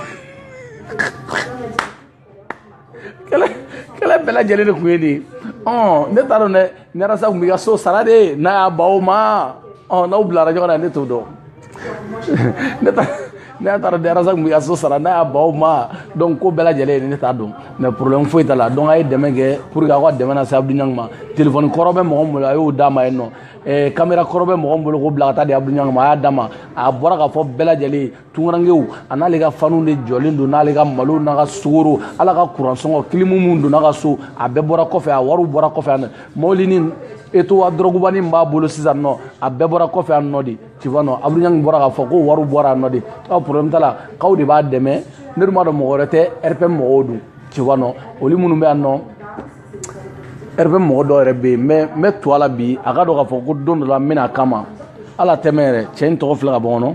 kɛlɛ bɛɛ lajɛlen de tun ye de ɔn ne t'a dɔn dɛ ni Ras tun b'i ka so sara de n'a y'a ban o ma ɔn n'aw bilara ɲɔgɔn na ne t'o dɔn ne t'a ne y'a taara ni Ras tun b'i ka so sara n'a y'a ban o ma donc ko bɛɛ lajɛlen ye ne t'a dɔn mais problème foyi t'a la donc a ye dɛmɛ kɛ pour que aw ka dɛmɛ lase Abdou Niang ma téléphone kɔrɔ bɛ mɔgɔ min bolo a y'o d'a ma yen nɔ eh, kamera kɔrɔ bɛ mɔgɔ min bolo k'o bila ka taa di Abdou Niang ma a y'a d'a ma a bɔra k'a fɔ bɛɛ lajɛlen tunkarankew an'ale ka fanu de jɔlen don n'ale ka malo n'a ka sukaro ale ka kuransɔngɔ kilimu minnu donna ka so a bɛɛ bɔra kɔfɛ a wariw bɔra kɔfɛ a mɔbilinin Toyota dɔrɔgubanin min b'a bolo sisan nɔ a bɛɛ bɔra kɔfɛ a nɔ de tu vois nɔ Abdou Niang bɔra k'a fɔ ko wariw bɔra a nɔ de aw problème t'a la k'aw de b'a dɛmɛ ne dun b'a dɔn mɔgɔ wɛrɛ tɛ rpm mɔgɔw dun tu vois nɔ olu minnu bɛ yan nɔ rpm mɔgɔ dɔw yɛrɛ bɛ yen n bɛ n bɛ to a la bi a ka dɔn k'a fɔ ko don dɔ la n bɛna a kama ala tɛmɛ yɛrɛ cɛ in tɔgɔ filɛ ka bɔ kɔnɔ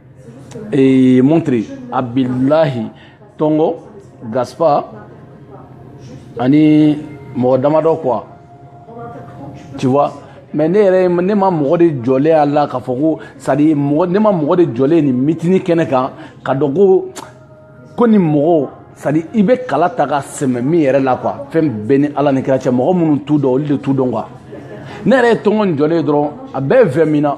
et montre a bilahi tɔngɔ gaspa ani mɔgɔ damadɔ quoi tu vois mais ne yɛrɛ ne ma mɔgɔ de jɔlen a la k'a fɔ ko sadi mɔgɔ ne ma mɔgɔ de jɔlen ye nin mitini kɛnɛ kan k'a dɔn ko ko nin mɔgɔw sadi i bɛ kala ta ka sɛmɛ min yɛrɛ la quoi fɛn bɛɛ ni ala ni kira cɛ mɔgɔ minnu t'u dɔn olu de t'u dɔn quoi ne yɛrɛ ye tɔngɔn in jɔlen ye dɔrɔn a bɛɛ vin minna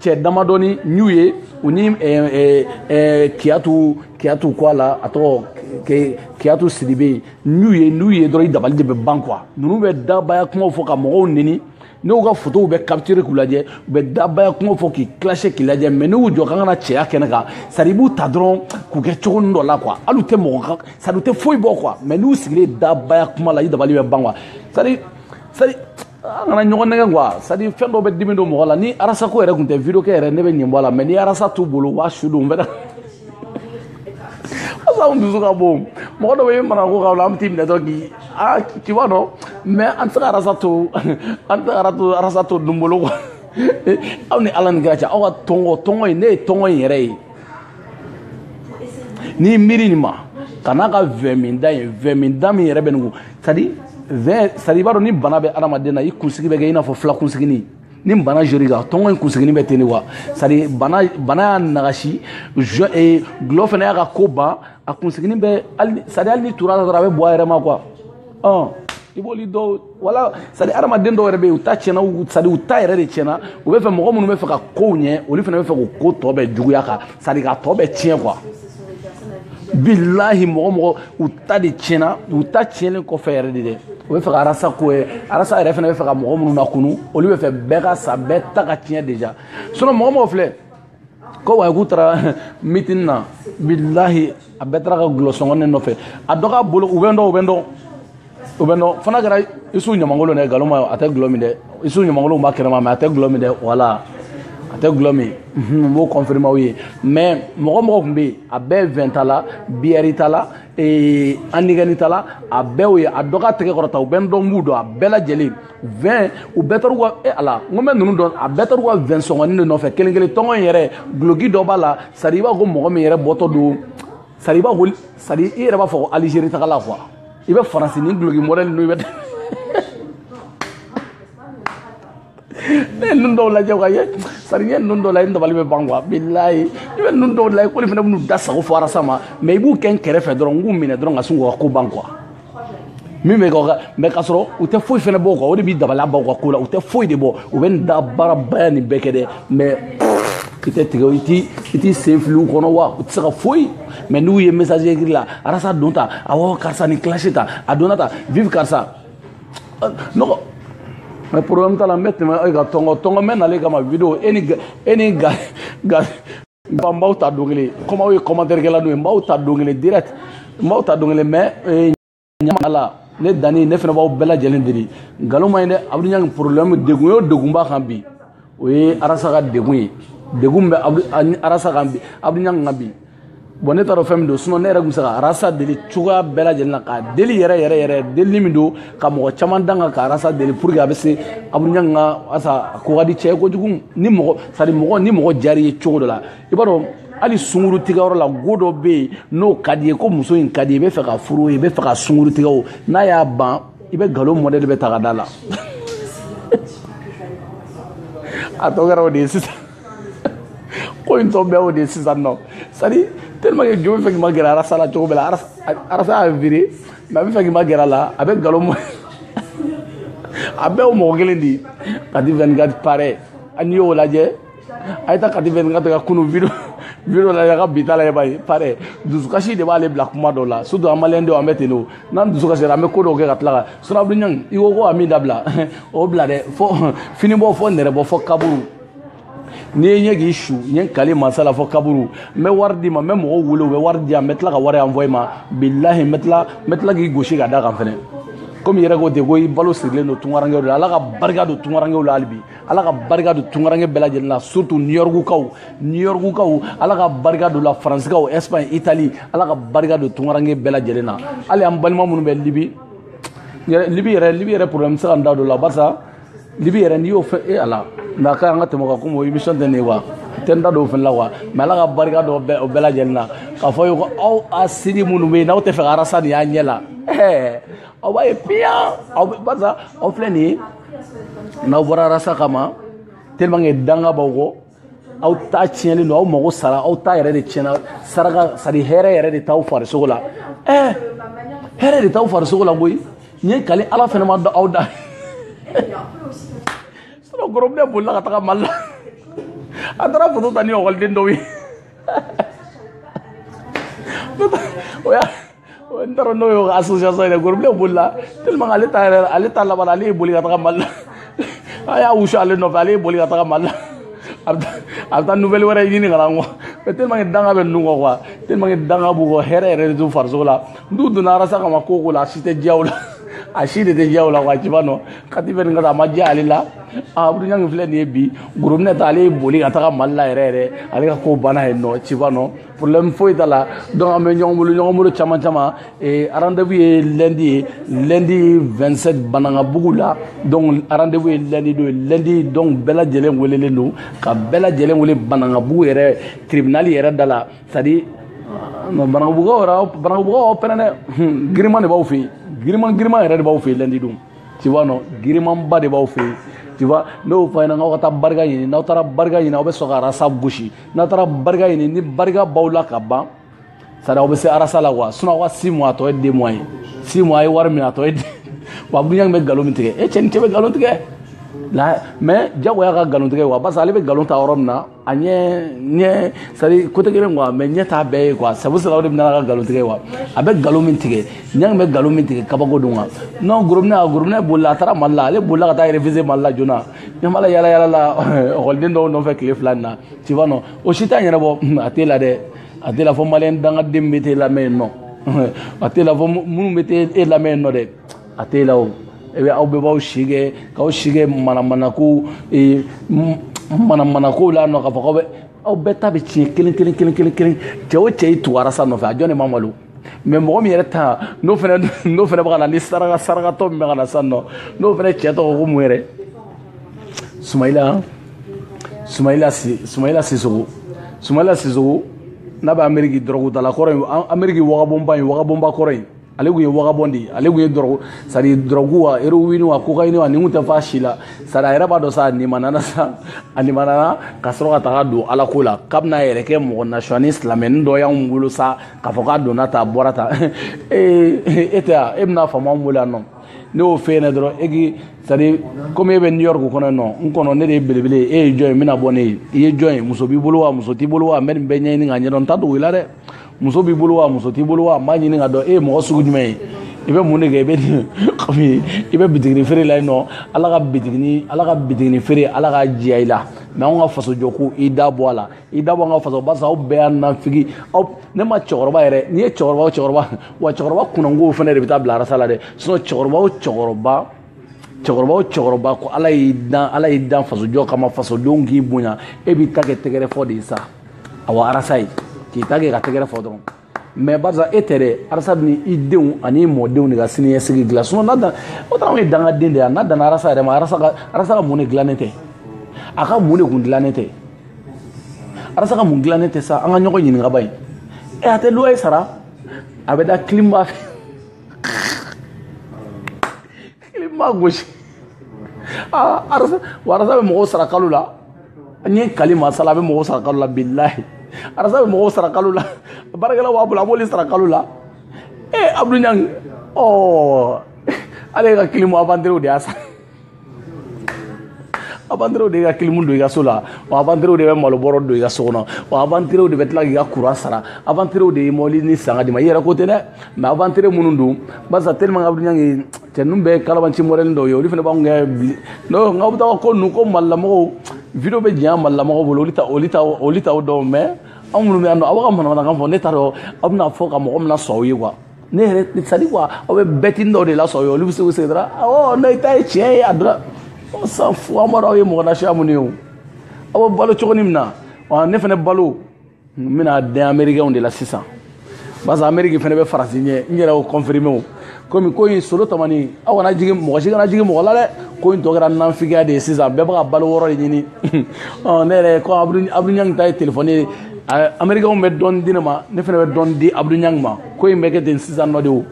cɛ damadɔni n'u ye u ni kiyatu kiyatu ko a la a tɔgɔ kiyatu sidibe n'u ye n'u ye dɔrɔn i dabali de bɛ ban quoi ninnu bɛ dabaya kumaw fɔ ka mɔgɔw neni n y'u ka fotow bɛɛ capture k'u lajɛ u bɛ dabaya kumaw fɔ k'i clasher k'i lajɛ mais n'u jɔ kan ka na cɛya kɛnɛ kan sari i b'u ta dɔrɔn k'u kɛ cogo nin dɔ la quoi hali u tɛ mɔgɔ kan sari u tɛ foyi bɔ quoi mais n'u sigilen dabaya kuma la i dabali bɛ ban quoi sari sari an kana ɲɔgɔn nɛgɛ quoi c'est à dire fɛn dɔ bɛ dimi don mɔgɔ la ni arasa ko yɛrɛ tun tɛ video kɛ yɛrɛ ne bɛ ɲɛ bɔ a la mais ni arasa t'u bolo u b'a su don bɛɛ asa n dusu ka bon mɔgɔ dɔ bɛ mara ko ka la an bɛ t'i minɛ dɔrɔn k'i a k'i b'a dɔn mais an tɛ se ka arasa to an tɛ ka to arasa to dun bolo quoi aw ni ala ni kira cɛ aw ka tɔngɔ tɔngɔ in ne ye tɔngɔ in yɛrɛ ye n'i miiri nin ma ka n'a ka vin minda ye vin minda min yɛrɛ bɛ nin kun sadi vin sadi i b'a dɔn ni bana bɛ adamaden na i kunsigi bɛ kɛ i n'a fɔ fila kunsigini ni bana jɔr'i kan tɔngɔ in kunsigini bɛ ten de wa sadi bana bana y'a nagasi jɔ ee gulɔ fana y'a ka ko ban a kunsigini bɛ hali sadi hali n'i tur'a la dɔrɔn a bɛ bɔ a yɛrɛ ma quoi ɔn i b'olu dɔw wala sadi adamaden dɔw yɛrɛ bɛ yen u ta tiɲɛna sadi u ta yɛrɛ de tiɲɛna u bɛ fɛ mɔgɔ minnu bɛ fɛ ka kow ɲɛ olu fana bɛ fɛ k'u ko tɔ bɛɛ juguya quoi sadi k'a tɔ bɛɛ tiɲɛ quoi bilahi mɔgɔ mɔgɔ u ta de tiɲɛna u ta tiɲɛlen kɔfɛ yɛrɛ de dɛ u bɛ fɛ ka arasa ko ye arasa yɛrɛ fana bɛ fɛ ka mɔgɔ minnu lakunu olu bɛ fɛ bɛɛ ka sa bɛɛ ta ka tiɲɛ déjà sinon mɔgɔ mɔgɔ filɛ quoi k'u taara mitin na bilahi a bɛɛ taara ka gulɔsɔngɔnin nɔfɛ a dɔ k'a bolo u bɛ n dɔn u bɛ n dɔn u bɛ n dɔn fo n'a kɛra isu ɲamankolon dɛ nkalon ma a tɛ gulɔ min dɛ isu ɲamankolon b'a kɛnɛma mais a tɛ gulɔ min dɛ voilà a tɛ gulɔ min n b'o confirmer aw ye mais mɔgɔ mɔgɔ tun bɛ yen a bɛɛ vin tala biɛri tala heineken tala a bɛɛ ye a dɔ k'a tɛgɛ kɔrɔta u bɛ n dɔn n b'u dɔn a bɛɛ lajɛlen vin u bɛɛ taar'u ka e ala n ko n bɛ ninnu dɔn a bɛɛ taar'u ka vin sɔngɔni de nɔfɛ kelen kelen tɔngɔn in yɛrɛ guloki dɔ b'a la sari i b'a fɔ ko mɔgɔ min yɛrɛ bɔtɔ don sari i b'a ko sari i yɛrɛ b'a fɔ ko algérie tagala quoi i bɛ faransi ni duloki mɔdɛli ninnu i bɛ ne ye ninnu dɔw lajɛ ka ye sari n ye ninnu dɔw lajɛ n dabali bɛ ban quoi bilayi i bɛ ninnu dɔw lajɛ k'olu fana bɛn'u da sago fɔ arasa ma mais i b'u kɛ n kɛrɛfɛ dɔrɔn n k'u minɛ dɔrɔn ka sin k'u ka ko ban quoi min bɛ kɛ mɛ k'a sɔrɔ u tɛ foyi fana bɔ o kan o de b'i dabali ban u ka ko la u tɛ foyi de bɔ u bɛ nin da baarabaya nin bɛɛ kɛ dɛ mɛ i tɛ tigɛ i t'i i t'i sen fili u kɔnɔ wa u tɛ se ka foyi mɛ n'u ye message écrit la arasa don ta awɔ karisa ni classe ta a donna ta vive karisa nɔgɔ mɛ problème t'a la n bɛ tɛmɛ e ka tɔngɔ tɔngɔ n bɛ n'ale kama video e ni e ni ga ga n b'aw ta don kelen comme aw ye commentaire kɛla n'o ye n b'aw ta don kelen direct n b'aw ta don kelen mais eh, ɲama la ne danni ne fana b'aw bɛɛ lajɛlen deli nkalon ma ye dɛ abudou ɲangi problème degun y'o degun b'a kan bi o ye arasa ka degun ye degun bɛ arasa kan bi abudou ɲangi kan bi bɔn ne t'a dɔn fɛn min don sinɔn ne yɛrɛ tun bɛ se ka arasa deli cogoya bɛɛ lajɛlen na k'a deli yɛrɛ yɛrɛ yɛrɛ delili min don ka mɔgɔ caman danga ka arasa deli pour que a bɛ se abudou ɲan ka arasa ko ka di cɛ kojugu ni mɔgɔ sari mɔgɔ ni mɔgɔ diyar'i ye cogo dɔ la i b'a dɔn hali sunguru tigɛyɔrɔ la mɔgɔ dɔ bɛ yen n'o ka d'i ye ko muso in ka di i b'a fɛ k'a furu i b'a fɛ k'a sunguru tigɛ o n'a y'a ban i bɛ nkalon mɔdɛli bɛɛ ta ka d'a la a tɔ kɛra o de ye sisan ko in tɔ bɛɛ y'o de ye sisan nɔ c'est-à-dire tellement que jo b'a fɛ k'i ma gɛrɛ arasa la cogo bɛɛ la arasa y'a vire mɛ a b'a fɛ k'i ma gɛrɛ a la a bɛ nkalon mɔ a bɛɛ y'o mɔgɔ kelen de ye kati 24 pare n'i y'o lajɛ a ye taa kati 24 ka kunu video video lajɛ a ka bi ta lajɛ b'a ye pare dusukasi de b'ale bila kuma dɔw la surtout an maliyɛn denw an bɛ ten de o n'an dusukasira an bɛ ko dɔw kɛ ka tila ka suma abudou ɲangi i ko ko a min dabila o bila dɛ fo finibɔ fo nɛrɛbɔ fo kaburu n'i ye ɲɛ k'i su n ye n kali mansa la fo kaburu n bɛ wari d'i ma n bɛ mɔgɔw wele u bɛ wari di yan n bɛ tila ka wari anvoye i ma bilahi n bɛ tila n bɛ tila k'i gosi ka d'a kan fɛnɛ komi i yɛrɛ ko ten ko i balo sirilen don tunkarankew de la ala ka barika don tunkarankew la hali bi ala ka barika don tunkaranke bɛɛ lajɛlen la surtout new yorkukaw new yorkukaw ala ka barika don u la faransikaw espagne italie ala ka barika don tunkaranke bɛɛ lajɛlen na hali an balima minnu bɛ libi libi yɛrɛ libi yɛrɛ problème n tɛ se ka n da don a la barisa libi yɛrɛ n'i y'o fɔ e ala mɛ a ka an ka tɛmɛ a kan comme o émission tɛ nin ye quoi n tɛ n da don o fana la quoi mɛ ala ka barika don bɛɛ o bɛɛ lajɛlen na k'a fɔ ye ko aw a siri minnu bɛ yen n'aw t'a fɛ ka arasa nin y'aw ɲɛ la ɛɛ aw b'a ye piyan aw bɛ barisa aw filɛ nin ye n'aw bɔra arasa kama tellement que danga b'aw kɔ aw ta tiɲɛlen don aw mago sara aw ta yɛrɛ de tiɲɛna saraka sari hɛrɛ yɛrɛ de t'aw farisogo la ɛɛ hɛrɛ de t'aw farisogo la koyi n ye n kali ala fɛnɛ ma dɔn aw da sɔrɔ gorobinɛ bolila ka taga mali la a taara foto ta ni ekɔliden dɔw ye o y'a n taara n'o ye association yɛrɛ gorobinɛ bolila tellement ale ta yɛrɛ ale ta laban ale ye boli ka taga mali la a y'a wusu ale nɔfɛ ale ye boli ka taga mali la a bɛ taa nouvelle wɛrɛ ɲini ka na n kɔ mais tellement que danga bɛ ninnu kɔ quoi tellement que danga b'u kɔ hɛrɛ yɛrɛ de t'u farisogo la n'u donna arasa kama ko ko la a si tɛ diya u la a si de tɛ diya u la quoi tu vois non kati fɛ nin ka taa a ma diya ale la a buruɲangi filɛ nin ye bi gorobinɛ ta ale ye boli ka taga mali la yɛrɛ yɛrɛ ale ka ko banna yen nɔ tu vois non problème foyi t'a la donc an bɛ ɲɔgɔn bolo ɲɔgɔn bolo caman caman eh, rendez-vous ye lundi ye lundi 27 banangabugu la donc rendez-vous ye lundi don ye lundi donc bɛɛ lajɛlen welelen don ka bɛɛ lajɛlen wele banangabugu yɛrɛ tribunal yɛrɛ da la c'est à dire non banangabugukaw yɛrɛ banangabugukaw aw pɛrɛn dɛ hmm, giriman de b'aw fɛ yen giriman giriman yɛrɛ de b'aw fɛ yen lundi don tu vois non girimanba de b'aw fɛ yen tu vois ne y'o fɔ aw ɲɛna n k'aw ka taa barika ɲini n'aw taara barika ɲini aw bɛ sɔrɔ k'arasa gosi n'a taara barika ɲini ni barika b'aw la ka ban sari aw bɛ se arasa la wa sinɔn aw ka si mɔ a tɔ ye den mɔ ye si mɔ a ye wari min a tɔ ye den wa buɲa bɛ nkalon min tigɛ e cɛ ni cɛ bɛ nkalon tigɛ la mɛ jagoya ka nkalon tigɛ wa parce que ale bɛ nkalon ta yɔrɔ min na a ɲɛ ɲɛ sari kote kelen kuwa mɛ ɲɛ t'a bɛɛ ye kuwa sabu sira o de bɛna ka nkalon tigɛ wa a bɛ nkalon min tigɛ ɲa bɛ nkalon min tigɛ kabako don wa non gorobinɛ a gorobinɛ bolila a taara mali la ale bolila ka taa réfugié mali la joona ɲamala yala yala lakɔliden dɔw nɔfɛ tile fila nin na tu vois non o si t'a ɲɛnabɔ a t'e la dɛ a t'e la fɔ maliyɛn dangaden bɛ t'e lamɛn yen nɔ a t'e la fɔ minnu bɛ t'e lamɛn yen nɔ dɛ a t'e la o e bɛ aw bɛɛ b'aw si kɛ k'aw si kɛ manamanako manamanako la nɔ k'a fɔ k'aw bɛ aw bɛɛ ta bɛ tiɲɛ kelen kelen kelen kelen kelen cɛ o cɛ y'i tugu arasa nɔfɛ a jɔn de ma malo mɛ mɔgɔ min yɛrɛ ta n'o fana n'o fana bɛ ka na ni saraka sarakatɔ min bɛ ka na sisan nɔ n'o fana cɛ tɔgɔ ko mun yɛrɛ sumayila sumayila si sumayila sisɔkɔ sumayila sisɔkɔ n'a bɛ ameriki dɔrɔgutala kɔrɔ in ameriki wagabɔnba in wagabɔnba kɔrɔ in ale kun ye wagabɔn de ye ale kun ye dɔrɔgu sari dɔrɔgu wa erowini wa kokayini wa nin kun tɛ fa si la sari a yɛrɛ b'a dɔn sa a nimanana sa a nimanana ka sɔrɔ ka taga don ala ko la k'a bɛna a yɛrɛ kɛ mɔgɔ nasiyɔni silamɛni dɔ y'anw bolo sa k'a fɔ k'a donna tan a bɔra tan ee e tɛ yan e bɛna faama wele yan nɔ ne y'o f'e ɲɛna dɔrɔn e k'i sadi komi e bɛ new york kɔnɔ yen nɔ n kɔnɔ ne de ye belebele ye e ye jɔn ye n bɛna bɔ ne ye i ye jɔn ye muso b'i bolo wa muso t'i bolo wa n bɛ nin bɛɛ ɲɛɲini k'a ɲɛdɔn n t'a dogo i la dɛ muso b'i bolo wa muso t'i bolo wa n b'a ɲini k'a dɔn e ye mɔgɔ sugu jumɛn ye i bɛ mun de kɛ i bɛ nin kɔmi i bɛ bitigini feere la yen nɔ ala ka bitigini ala ka bitigini feere ala k'a diya i la mɛ anw ka fasojɔko i da bɔ a la i da bɔ an ka faso barisa aw bɛɛ y'a nafigi aw ne ma cɛkɔrɔba yɛrɛ n'i ye cɛkɔrɔba o cɛkɔrɔba wa cɛkɔrɔba kunnankow fana de bɛ taa bila arasa la dɛ sinɔn cɛkɔrɔba o cɛkɔrɔba cɛkɔrɔba o cɛkɔrɔba ko ala y'i dan ala y'i dan fasojɔ kama fasodenw k'i bonya e b'i ta kɛ tɛgɛrɛ fɔ de ye sa awa arasa ye k'i ta kɛ ka tɛgɛrɛ fɔ dɔrɔn mɛ barisa e tɛ dɛ arasa ni i denw ani i mɔdenw de ka siniɲɛsigi dilan sinɔn n'a dan o ta na anw ye dangaden de ye n'a danna arasa yɛrɛ ma arasa ka arasa ka mun de dilannen tɛ a ka mun de kun dilannen tɛ arasa ka mun dilannen tɛ sa an ka ɲɔgɔn ɲininka ba ye ɛ a tɛ luwaye sara a bɛ da kilimba fɛ i ma gosi aa arasa wa arasa bɛ mɔgɔw sara kalo la n ye kali masa la a bɛ mɔgɔw sara kalo la bilahi arasa bɛ mɔgɔw sara kalo la baarakɛla b'a bolo a b'olu sara kalo la ee abdul ɲang ɔɔ ale ka kilimu avanterew de y'a sara avanterew de ka kilimu don i ka so la wa avanterew de bɛ malobɔrɔ don i ka so kɔnɔ wa avanterew de bɛ tila k'i ka kuran sara avanterew de ye mɔbili nin san k'a di i ma i yɛrɛ ko tɛ dɛ mɛ avantere minnu don barisa tellement ka dunya ye cɛ ninnu bɛɛ kalabanci mɔdɛli dɔw ye olu fana b'anw kɛ bili n'o nka aw bɛ taa ko ninnu ko malilamɔgɔw video bɛ janya malilamɔgɔw bolo olu ta olu ta olu t'aw dɔn mɛ anw minnu bɛ yan nɔ aw ka manamanakan fɔ ne t'a dɔn aw bɛna fɔ ka mɔgɔ min lasɔn aw ye quoi ne yɛrɛ c'est à dire quoi aw bɛ bɛtini dɔw de lasɔn aw ye olu bɛ se k'u sigi dɔrɔn awɔ ne ta ye tiɲɛ ye a dɔrɔn on s'en fout an b'a dɔn aw ye mɔgɔ nasiya minnu ye o aw bɛ balo cogo ni min na ne fana balo n bɛna dɛn amerikɛnw de la sisan parce que ameriki fana bɛ faransi ɲɛ n yɛrɛ y'o confirme o komi ko in solo tamani aw kana jigin mɔgɔ si kana jigin mɔgɔ la dɛ ko in tɔ kɛra nafigiya de ye sisan bɛɛ bɛ k'a baloyɔrɔ de ɲini ne yɛrɛ ko abudulayi ta ye telefɔni ye amerikɛnw bɛ dɔɔni di ne ma ne fana bɛ dɔɔni di abudulayi ma ko in bɛ kɛ ten sisan nɔ de o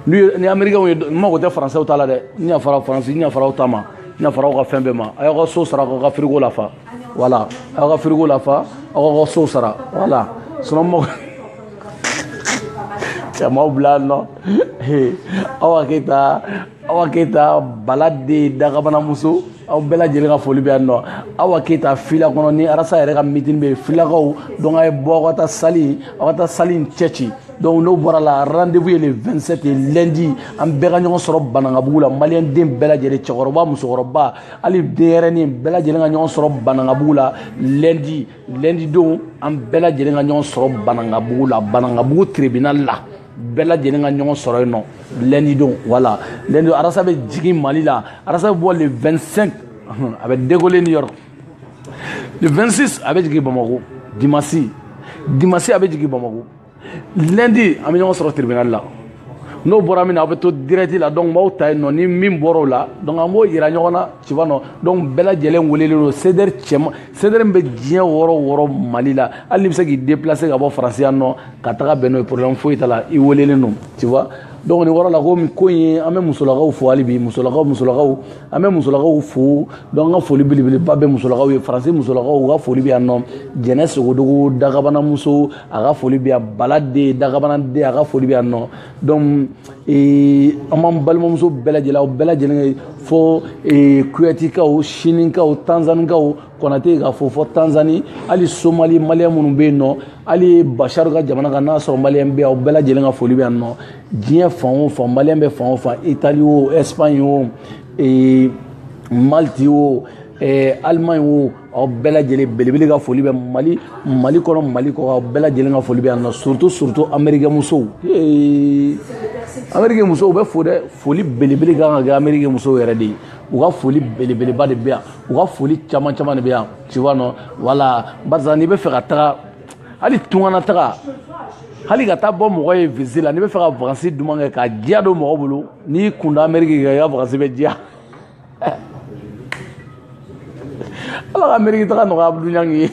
ni amerikɛnw ye n mago tɛ faransɛw ta la dɛ n yafara faransi n yafara aw ta ma n yafara aw ka fɛn bɛɛ ma a y'aw ka so sara k'aw ka firiko lafa wala aw ka firiko lafa aw ka so sara wala sinon mɔgɔ si m'aw bila yan nɔ awa keyita awa keyita bala de dagabanamuso aw bɛɛ lajɛlen ka foli bɛ yan nɔ awa keyita fila kɔnɔ ni arasa yɛrɛ ka mitini bɛ yen filakaw donc a ye bɔ aw ka taa sali aw ka taa sali in cɛci donc n'o bɔr'a la rendez-vous ye le 27 ye lundi an bɛɛ ka ɲɔgɔn sɔrɔ banankabugu la maliyɛnden bɛɛ lajɛlen cɛkɔrɔba musokɔrɔba hali denyɛrɛnin bɛɛ lajɛlen ka ɲɔgɔn sɔrɔ banangabugu la lɛndi lɛndi don an bɛɛ lajɛlen ka ɲɔgɔn sɔrɔ banangabugu la banangabugu tribunal la bɛɛ lajɛlen ka ɲɔgɔn sɔrɔ yen nɔ lɛndi don wala lɛndi don arasa bɛ jigin mali la arasa bɛ bɔ le 25 a bɛ décoller New York le 26 a bɛ jigin bamako dimasi dimasi a bɛ jigin bamako lundi an bɛ ɲɔgɔn sɔrɔ tribunal la n'o bɔra min na aw bɛ to direct la donc n'aw taa yen nɔ ni min bɔra o la donc an b'o yira ɲɔgɔn na ci ba nɔ donc bɛɛ lajɛlen welelen don CDR cɛma CDR min bɛ diɲɛ yɔrɔ o yɔrɔ Mali la hali n'i bɛ se k'i déplacer ka bɔ France yan nɔ ka tag'a bɛn n'o ye problème foyi t'a la i welelen don tu vois donc nin yɔrɔ la ko ko in ye an bɛ musolakaw fo hali bi musolakaw musolakaw an bɛ musolakaw fo donc an ka foli belebeleba bɛ musolakaw ye faransi musolakaw u ka foli bɛ yan nɔ jɛnɛ sogodogo dagabanamuso a ka foli bɛ yan bala den dagabana den a ka foli bɛ yan nɔ donc ee, an b'an balimamuso bɛɛ lajɛlen aw bɛɛ lajɛlen fo ee, kuwɛtikaw sinikaw tanzanikaw kɔnate k'a fɔ fo tanzani hali somali maliyɛn minnu bɛ yen nɔ hali basharu ka jamana kan n'a sɔrɔ maliyɛn bɛ aw bɛɛ lajɛlen ka foli bɛ yan nɔ diɲɛ fan o fan maliyɛn bɛ fan o fan itali o ɛsipaɲi o ee, maliti o ee, alimaɲi o aw bɛɛ lajɛlen belebele ka foli bɛ mali mali kɔnɔ mali kɔ aw bɛɛ lajɛlen ka foli bɛ yan nɔ surtout surtout amerikɛ musow amerikɛ musow bɛ fo dɛ foli belebele kan ka kɛ amerikɛ musow yɛrɛ de ye u ka foli belebeleba de bɛ yan u ka foli caman caman de bɛ yan tu vois non voilà barisa n'i bɛ fɛ ka taga hali tunga na taga hali ka taa bɔ mɔgɔ ye visite la n'i bɛ fɛ ka vakansi duman kɛ ka diya don mɔgɔ bolo n'i kun da ameriki kan i ka vakansi bɛ diya ala ka ameriki taga nɔgɔya Abudu Ɲangi ye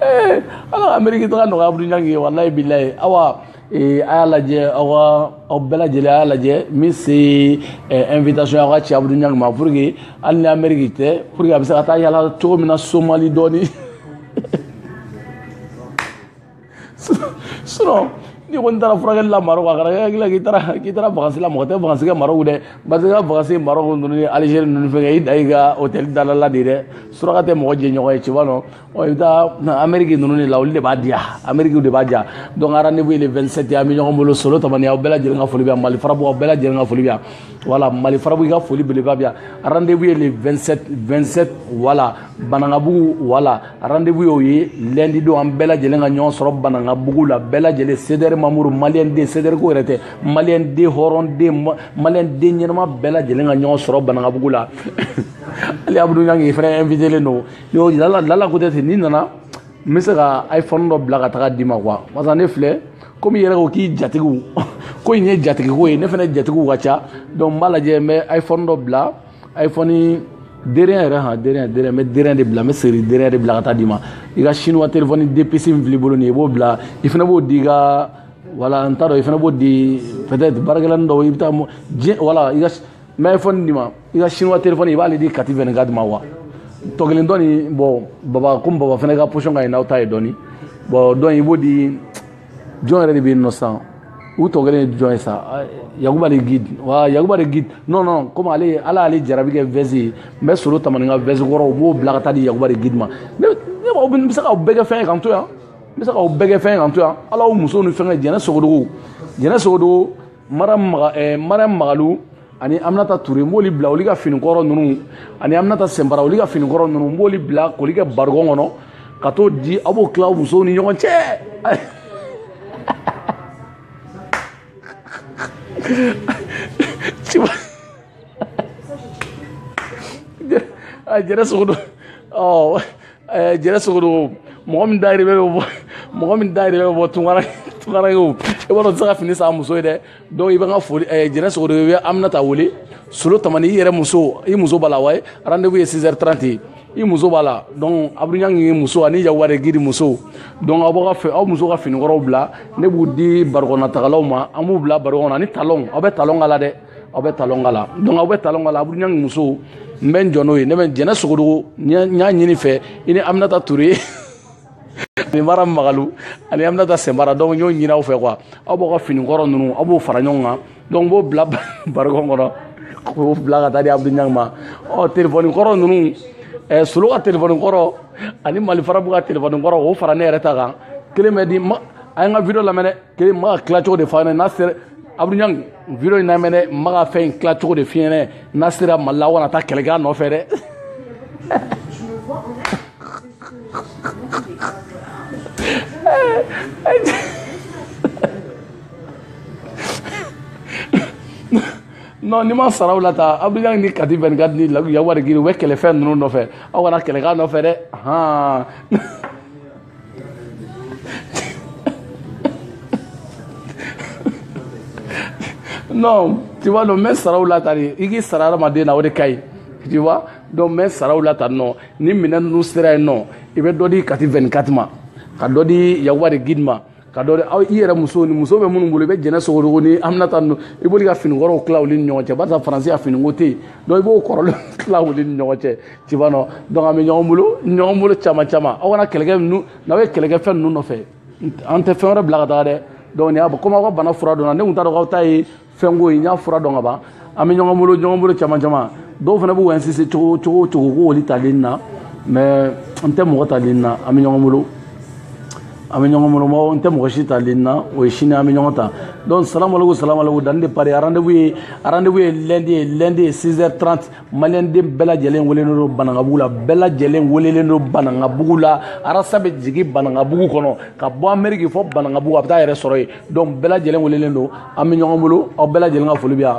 eh, ala ka ameriki taga nɔgɔya Abudu Ɲangi ye walayi bilayi awa eh, a y'a lajɛ aw ka aw bɛɛ lajɛlen a y'a lajɛ min se eh, invitation aw k'a ci Abudu Ɲangi ma pour que hali ni ameriki tɛ pour que a bɛ se ka taa yala cogo min na somali dɔɔni sinon n'i kɔni taara furakɛli la marɔku a kana kɛ i hakili la k'i taara k'i taara vakansi la mɔgɔ tɛ vakansi kɛ marɔku dɛ parce que ka vakansi marɔku ninnu ni alizeri ninnu fɛn kɛ i dan y'i ka hotɛli da la de ye dɛ suraka tɛ mɔgɔ jɛ ɲɔgɔn ye tu vois non ɔ i bɛ taa ameriki ninnu de la olu de b'a diya amerikiw de b'a diya donc rendez-vous ye le 27 ye an bɛ ɲɔgɔn bolo solo tamani aw bɛɛ lajɛlen ka foli bɛ yan mali farabu aw bɛɛ lajɛlen ka foli bɛ yan voilà mali farabu i ka foli belebeleba bɛ yan rendez-vous ye le 27 27 voilà Banankabugu voilà rendez-vous y'o ye lundi don an bɛɛ lajɛlen ka ɲɔgɔn sɔrɔ Banankabugu la bɛɛ lajɛlen CDR membre malien den CDR ko yɛrɛ tɛ malien den hɔrɔn den malien den ɲɛnama bɛɛ lajɛlen ka ɲɔgɔn sɔrɔ Banankabugu la hali Abudu Ɲangi fana invitélen don yo lala lala ko tɛ ten n'i nana n bɛ se ka iPhone dɔ bila ka taga d'i ma quoi parce ne filɛ komi i yɛrɛ ko k'i jatigiw ko in ye jatigiko ye ne fana jatigiw ka ca donc n b'a lajɛ n bɛ iPhone dɔ bila iPhone dernier yɛrɛ han dernier dernier n bɛ dernier de bila n bɛ série dernier de bila ka taa d'i ma i ka chinois téléphone deux puces min fil'i bolo nin ye i b'o bila i fana b'o di i ka wala n t'a dɔn i fana b'o di peut-être baarakɛlanin dɔw i bɛ taa diɲɛ wala i ka n bɛ iPhone d'i ma i ka chinois téléphone i b'ale di kati 24 ma wa tɔ kelen dɔ nin bon baba komi baba fana ka position ka ɲi n'aw ta ye dɔɔni bon donc i b'o di jɔn yɛrɛ de bɛ yen nɔ sisan u tɔ kelen ye jɔn ye sa yakuba de guide wa yakuba de guide non non komi ale ala y'ale jarabi kɛ vɛsi ye n bɛ solo tamani ka vɛsi kɔrɔw dɔ bila ka taa di yakuba de guide ma ne ne b'aw bɛ se k'aw bɛɛ kɛ fɛn ye k'an to yan n bɛ se k'aw bɛɛ kɛ fɛn ye k'an to yan ala y'u musow ni fɛn kɛ jɛnɛ sogodogo jɛnɛ sogodogo mariyam magalu ani aminata ture n b'oli bila olu ka finikɔrɔ ninnu ani aminata sɛnbara olu ka finikɔrɔ ninnu n b'oli bila k'oli kɛ barikɔn kɔnɔ ka t'o di aw b'o tila musow ni ɲɔgɔn cɛ a jɛnɛ sogodogo eh, jɛnɛ sogodogo mɔgɔ min da yɛrɛ bɛ bɔ mɔgɔ min da yɛrɛ bɛ bɔ tunkara tunkara ye o i b'a dɔn tɛ se ka fini san muso ye dɛ donc i bɛ n ka foli eh, jɛnɛ sogodogo i bɛ aminata wele solo tamani i yɛrɛ muso i muso b'a la wa rendez-vous ye 6 heures 30 ye i muso b'a la donc abdul ɲang ye muso ani yawari giri muso donc aw b'a fɛ aw muso ka finikɔrɔw bila ne b'u di barikɔnnatagalaw ma an b'u bila barikɔn kɔnɔ ani talon aw bɛ talon k'a la dɛ aw bɛ talon k'a la donc aw bɛ talon k'a la abdul ɲang ni muso n bɛ n jɔ n'o ye ne bɛ jɛnɛ sogodogo n y'a ɲini fɛ i ni aminata ture ani mariyam magalu ani aminata sɛnbara donc n y'o ɲini aw fɛ quoi aw b'aw ka fini kɔrɔ ninnu aw b'o fara ɲɔgɔn kan donc n b'o bila barikɔn kɔnɔ k'o bila ka taa di abdul ɲang ma ɔ telefɔni kɔrɔ ninnu ɛɛ solo ka telefɔni kɔrɔ ani malifarabu ka telefɔni kɔrɔ k'o fara ne yɛrɛ ta kan kelen bɛ di ma a ye n ka video lamɛn dɛ kelen ma ka tila cogo de fɔ a ɲɛna n'a sera abdul ɲang video in lamɛn dɛ n b'aw ka fɛn in tila cogo de f'i ye dɛ n'a sera mali la aw kana taa kɛlɛ kɛ a nɔfɛ dɛ non ni n ma n sara aw la tan abdul ɲang ni kati 24 ani yawari giri u bɛ kɛlɛ fɛn ninnu nɔfɛ aw kana kɛlɛ kɛ a nɔfɛ dɛ han non tu vois donc n bɛ n sara aw la tan de i k'i sara hadamaden na o de ka ɲi tu vois donc n bɛ n sara aw la tan non ni minɛn ninnu sera yen non i bɛ dɔ di kati 24 ma ka dɔ di yakuba de guide ma ka dɔ aw i yɛrɛ muso ni muso bɛ minnu bolo i bɛ jɛnɛ sogodogo ni aminata ninnu i b'olu ka fini kɔrɔw tila olu ni ɲɔgɔn cɛ barisa faransi ka finiko tɛ yen donc i b'o kɔrɔlen tila olu ni ɲɔgɔn cɛ tu vois non donc an bɛ ɲɔgɔn bolo ɲɔgɔn bolo caman caman aw kana kɛlɛ kɛ ninnu n'aw ye kɛlɛ kɛ fɛn ninnu nɔfɛ an tɛ fɛn wɛrɛ bila ka taga dɛ donc nin y'a komi aw ka bana fura dɔnna ne tun t'a dɔn k'aw ta ye fɛnko ye n y'a fura dɔn ka ban an bɛ ɲɔgɔn bolo ɲɔgɔn bolo caman caman dɔw fana b'u insiste cogo cogo cogo ko olu ta ligne na mais n tɛ mɔgɔ ta ligne na an bɛ ɲɔgɔn bolo an bɛ ɲɔgɔn bolo mɔgɔ n tɛ mɔgɔ si ta ligne na o ye sini an bɛ ɲɔgɔn ta donc salamaleku salamaleku danni de pari rendez-vous ye rendez-vous ye lundi ye lundi ye 6 heures 30 maliyɛnden bɛɛ lajɛlen welelen don banankabugu la bɛɛ lajɛlen welelen don banankabugu la arasa bɛ jigin banankabugu kɔnɔ ka bɔ ameriki fɔ banankabugu a bɛ taa a yɛrɛ sɔrɔ yen donc bɛɛ lajɛlen welelen don an bɛ ɲɔgɔn bolo aw bɛɛ lajɛlen ka foli bɛ yan